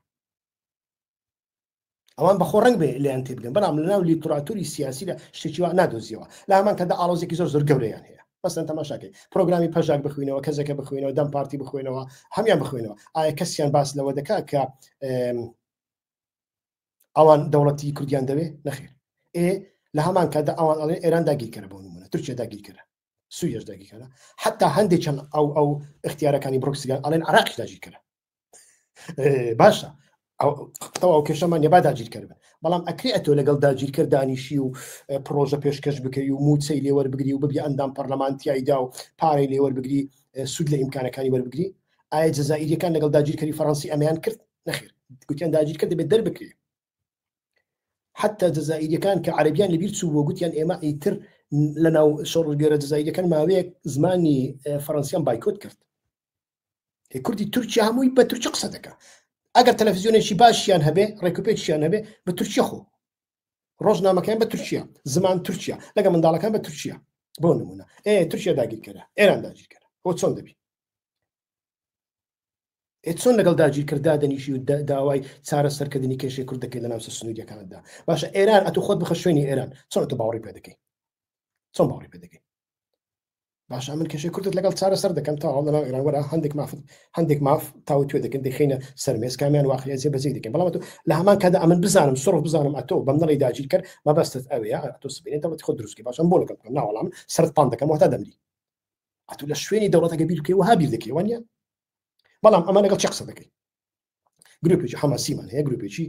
Speaker 1: ئەوان بەخۆ ڕنگ بێ لەیان تێبگەن بەڵام لە ناو لیتراتوری سیاسیدا شتێکیوە نادۆزیەوە لە هەمان کەدا ئاڵۆزێکی زۆر زۆر گەورەیان هەیە بەسەن تەماشاکەی پرۆگرامی پەژاک بخوێنەوە کەسەکە بخوێنەوە دەم پارتی بخوێنەوە هەمان بخوێنەوە ئایا کەسیان باس لەوە دەکا کە ئەوان دەوڵەتی کوردیان دەوێ نەخێر ئێ لە هەمان کادا ئەوان ئەڵێ ئێران داگیرکەرە بۆ نمونە ترکیە داگیرکەرە سوریش داگیر کردە حتا هەندێک چەند ئەو ئەو اختیارەکانی بڕکسگەر ئەڵێن عراقی داگیر کردە باشە ئەو کێشەمان نێبا داگیر کرد بەڵام ئەکری ئەتۆ لەگەڵ داگیر کرد دانیشی و پرۆژە پێشکەش بکەی و موچەی لێوەر بگری و ببی ئەندام پەرلەمانتیایدا و پارەی لێوەر بگری سوود لە ئیمکانەکانی وەربگری ئایا جززائیریەکان لەگەڵ داگیرکەری فەڕەنسی ئەمیان کرد نەخیر گوتیان داگیرکە دەبێت دەربکرێت حتا جەزائیریەکان کە عربیان لەبیر چوو بۆ گوتیان ئێمە ئیتر لە ناو شۆڕگەرە جززاییەکان ماوەیەک زمانی فەرەنسیان بایکۆت کرد کوردی تورکیا هەمووی بە تورکی قسە دەکە ئەگەر تەلەفزیۆنێکی باشیان هەبێ ڕێکوپێکیان هەبێ بە تورکیا خۆ ڕۆژنامەکان بە تورکیا زمان تورکیا لەگە منداڵەکان بە تورکیا بۆ نمونە ئێ تورکیا داگیرکەرە ئێران داگیرکەرە بۆ چۆن دەبی ئێ چۆن لەگەڵ داگیرکەر دادەنیشی و داوای چارەسەرکردنی کێشەی کورد دەکەی لە ناوچە سنووریەکاندا باشە ئێران ئەتو خۆت بخە شوێنی ئێران چۆن تۆ باوەڕی پێ دەکەی چۆن باوەڕی پێ دەکەی باش من کێشەی کوردت لەگەڵ چارەسەر دەکەم تا هەڵ لەناو ئێران وەرە هەندێک مافت هەندێک ماف تاو توێ دەکەن دەخینە سەرمێز کامیان واقعی زێ بەزی دەکەن بەڵام لە هەمان کادا ئەمن بزانم سڕ بزانم ئەتۆ بەم نەڵی داگیر کرد مەبەستت ئەوەیە ئەتۆ سبێنێت دەڵەتی خۆ دروستکە باشم بۆ لەگەڵ ناوەڵام سەرت پان دەکەم وەتا دەمری ئەتو لە شوێنی دەوڵەتەکە بیر بکەی وها بیر دەکەی وانە بەڵام ئەمە لەگەڵ چ قسە دەکەی گروپێکی حەماسیمان هەیە گروپێکی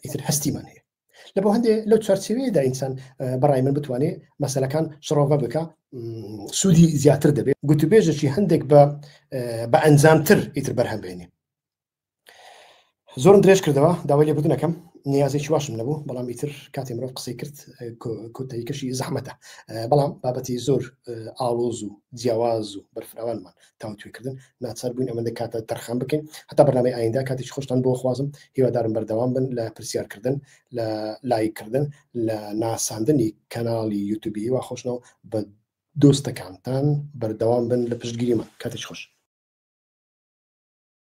Speaker 1: ئیتر هەستیمان هەیە لە بۆ هەندێ لەو چارچەوەیەدا ئینسان بەڕای من بتوانێت مەسلەکان شڕۆڤە بکە سوودی زیاتر دەبێت گوتوبێژەکی هەندێک بە بە ئەنجامتر ئیتر بەرهەمبێنێ زۆرم درێژ کردەوە داوای لێبوردن ئەەکەم نیازێکی واشم نەبوو بەڵام ئیتر کاتی مرۆڤ قسەی کرد کۆتەریکەشی زەحمەتە بەڵام بابەتی زۆر ئاڵۆز و جیاواز و بەرفراوانمان تاوتوێکردن ناچار بووین ئەمەندە کاتە تەرخان بکەین هەتا بەنامەی ئایندا کاتیش خۆشتان بۆ خوازم هیوادارم بەردەوام بن لە پرسیارکردن لە لایکردن لە ناساندنی کەناڵی یوتوبی وا خۆشنەوە بە دۆستەکانتان بەردەوام بن لە پشتگیریمان کاتیش خۆش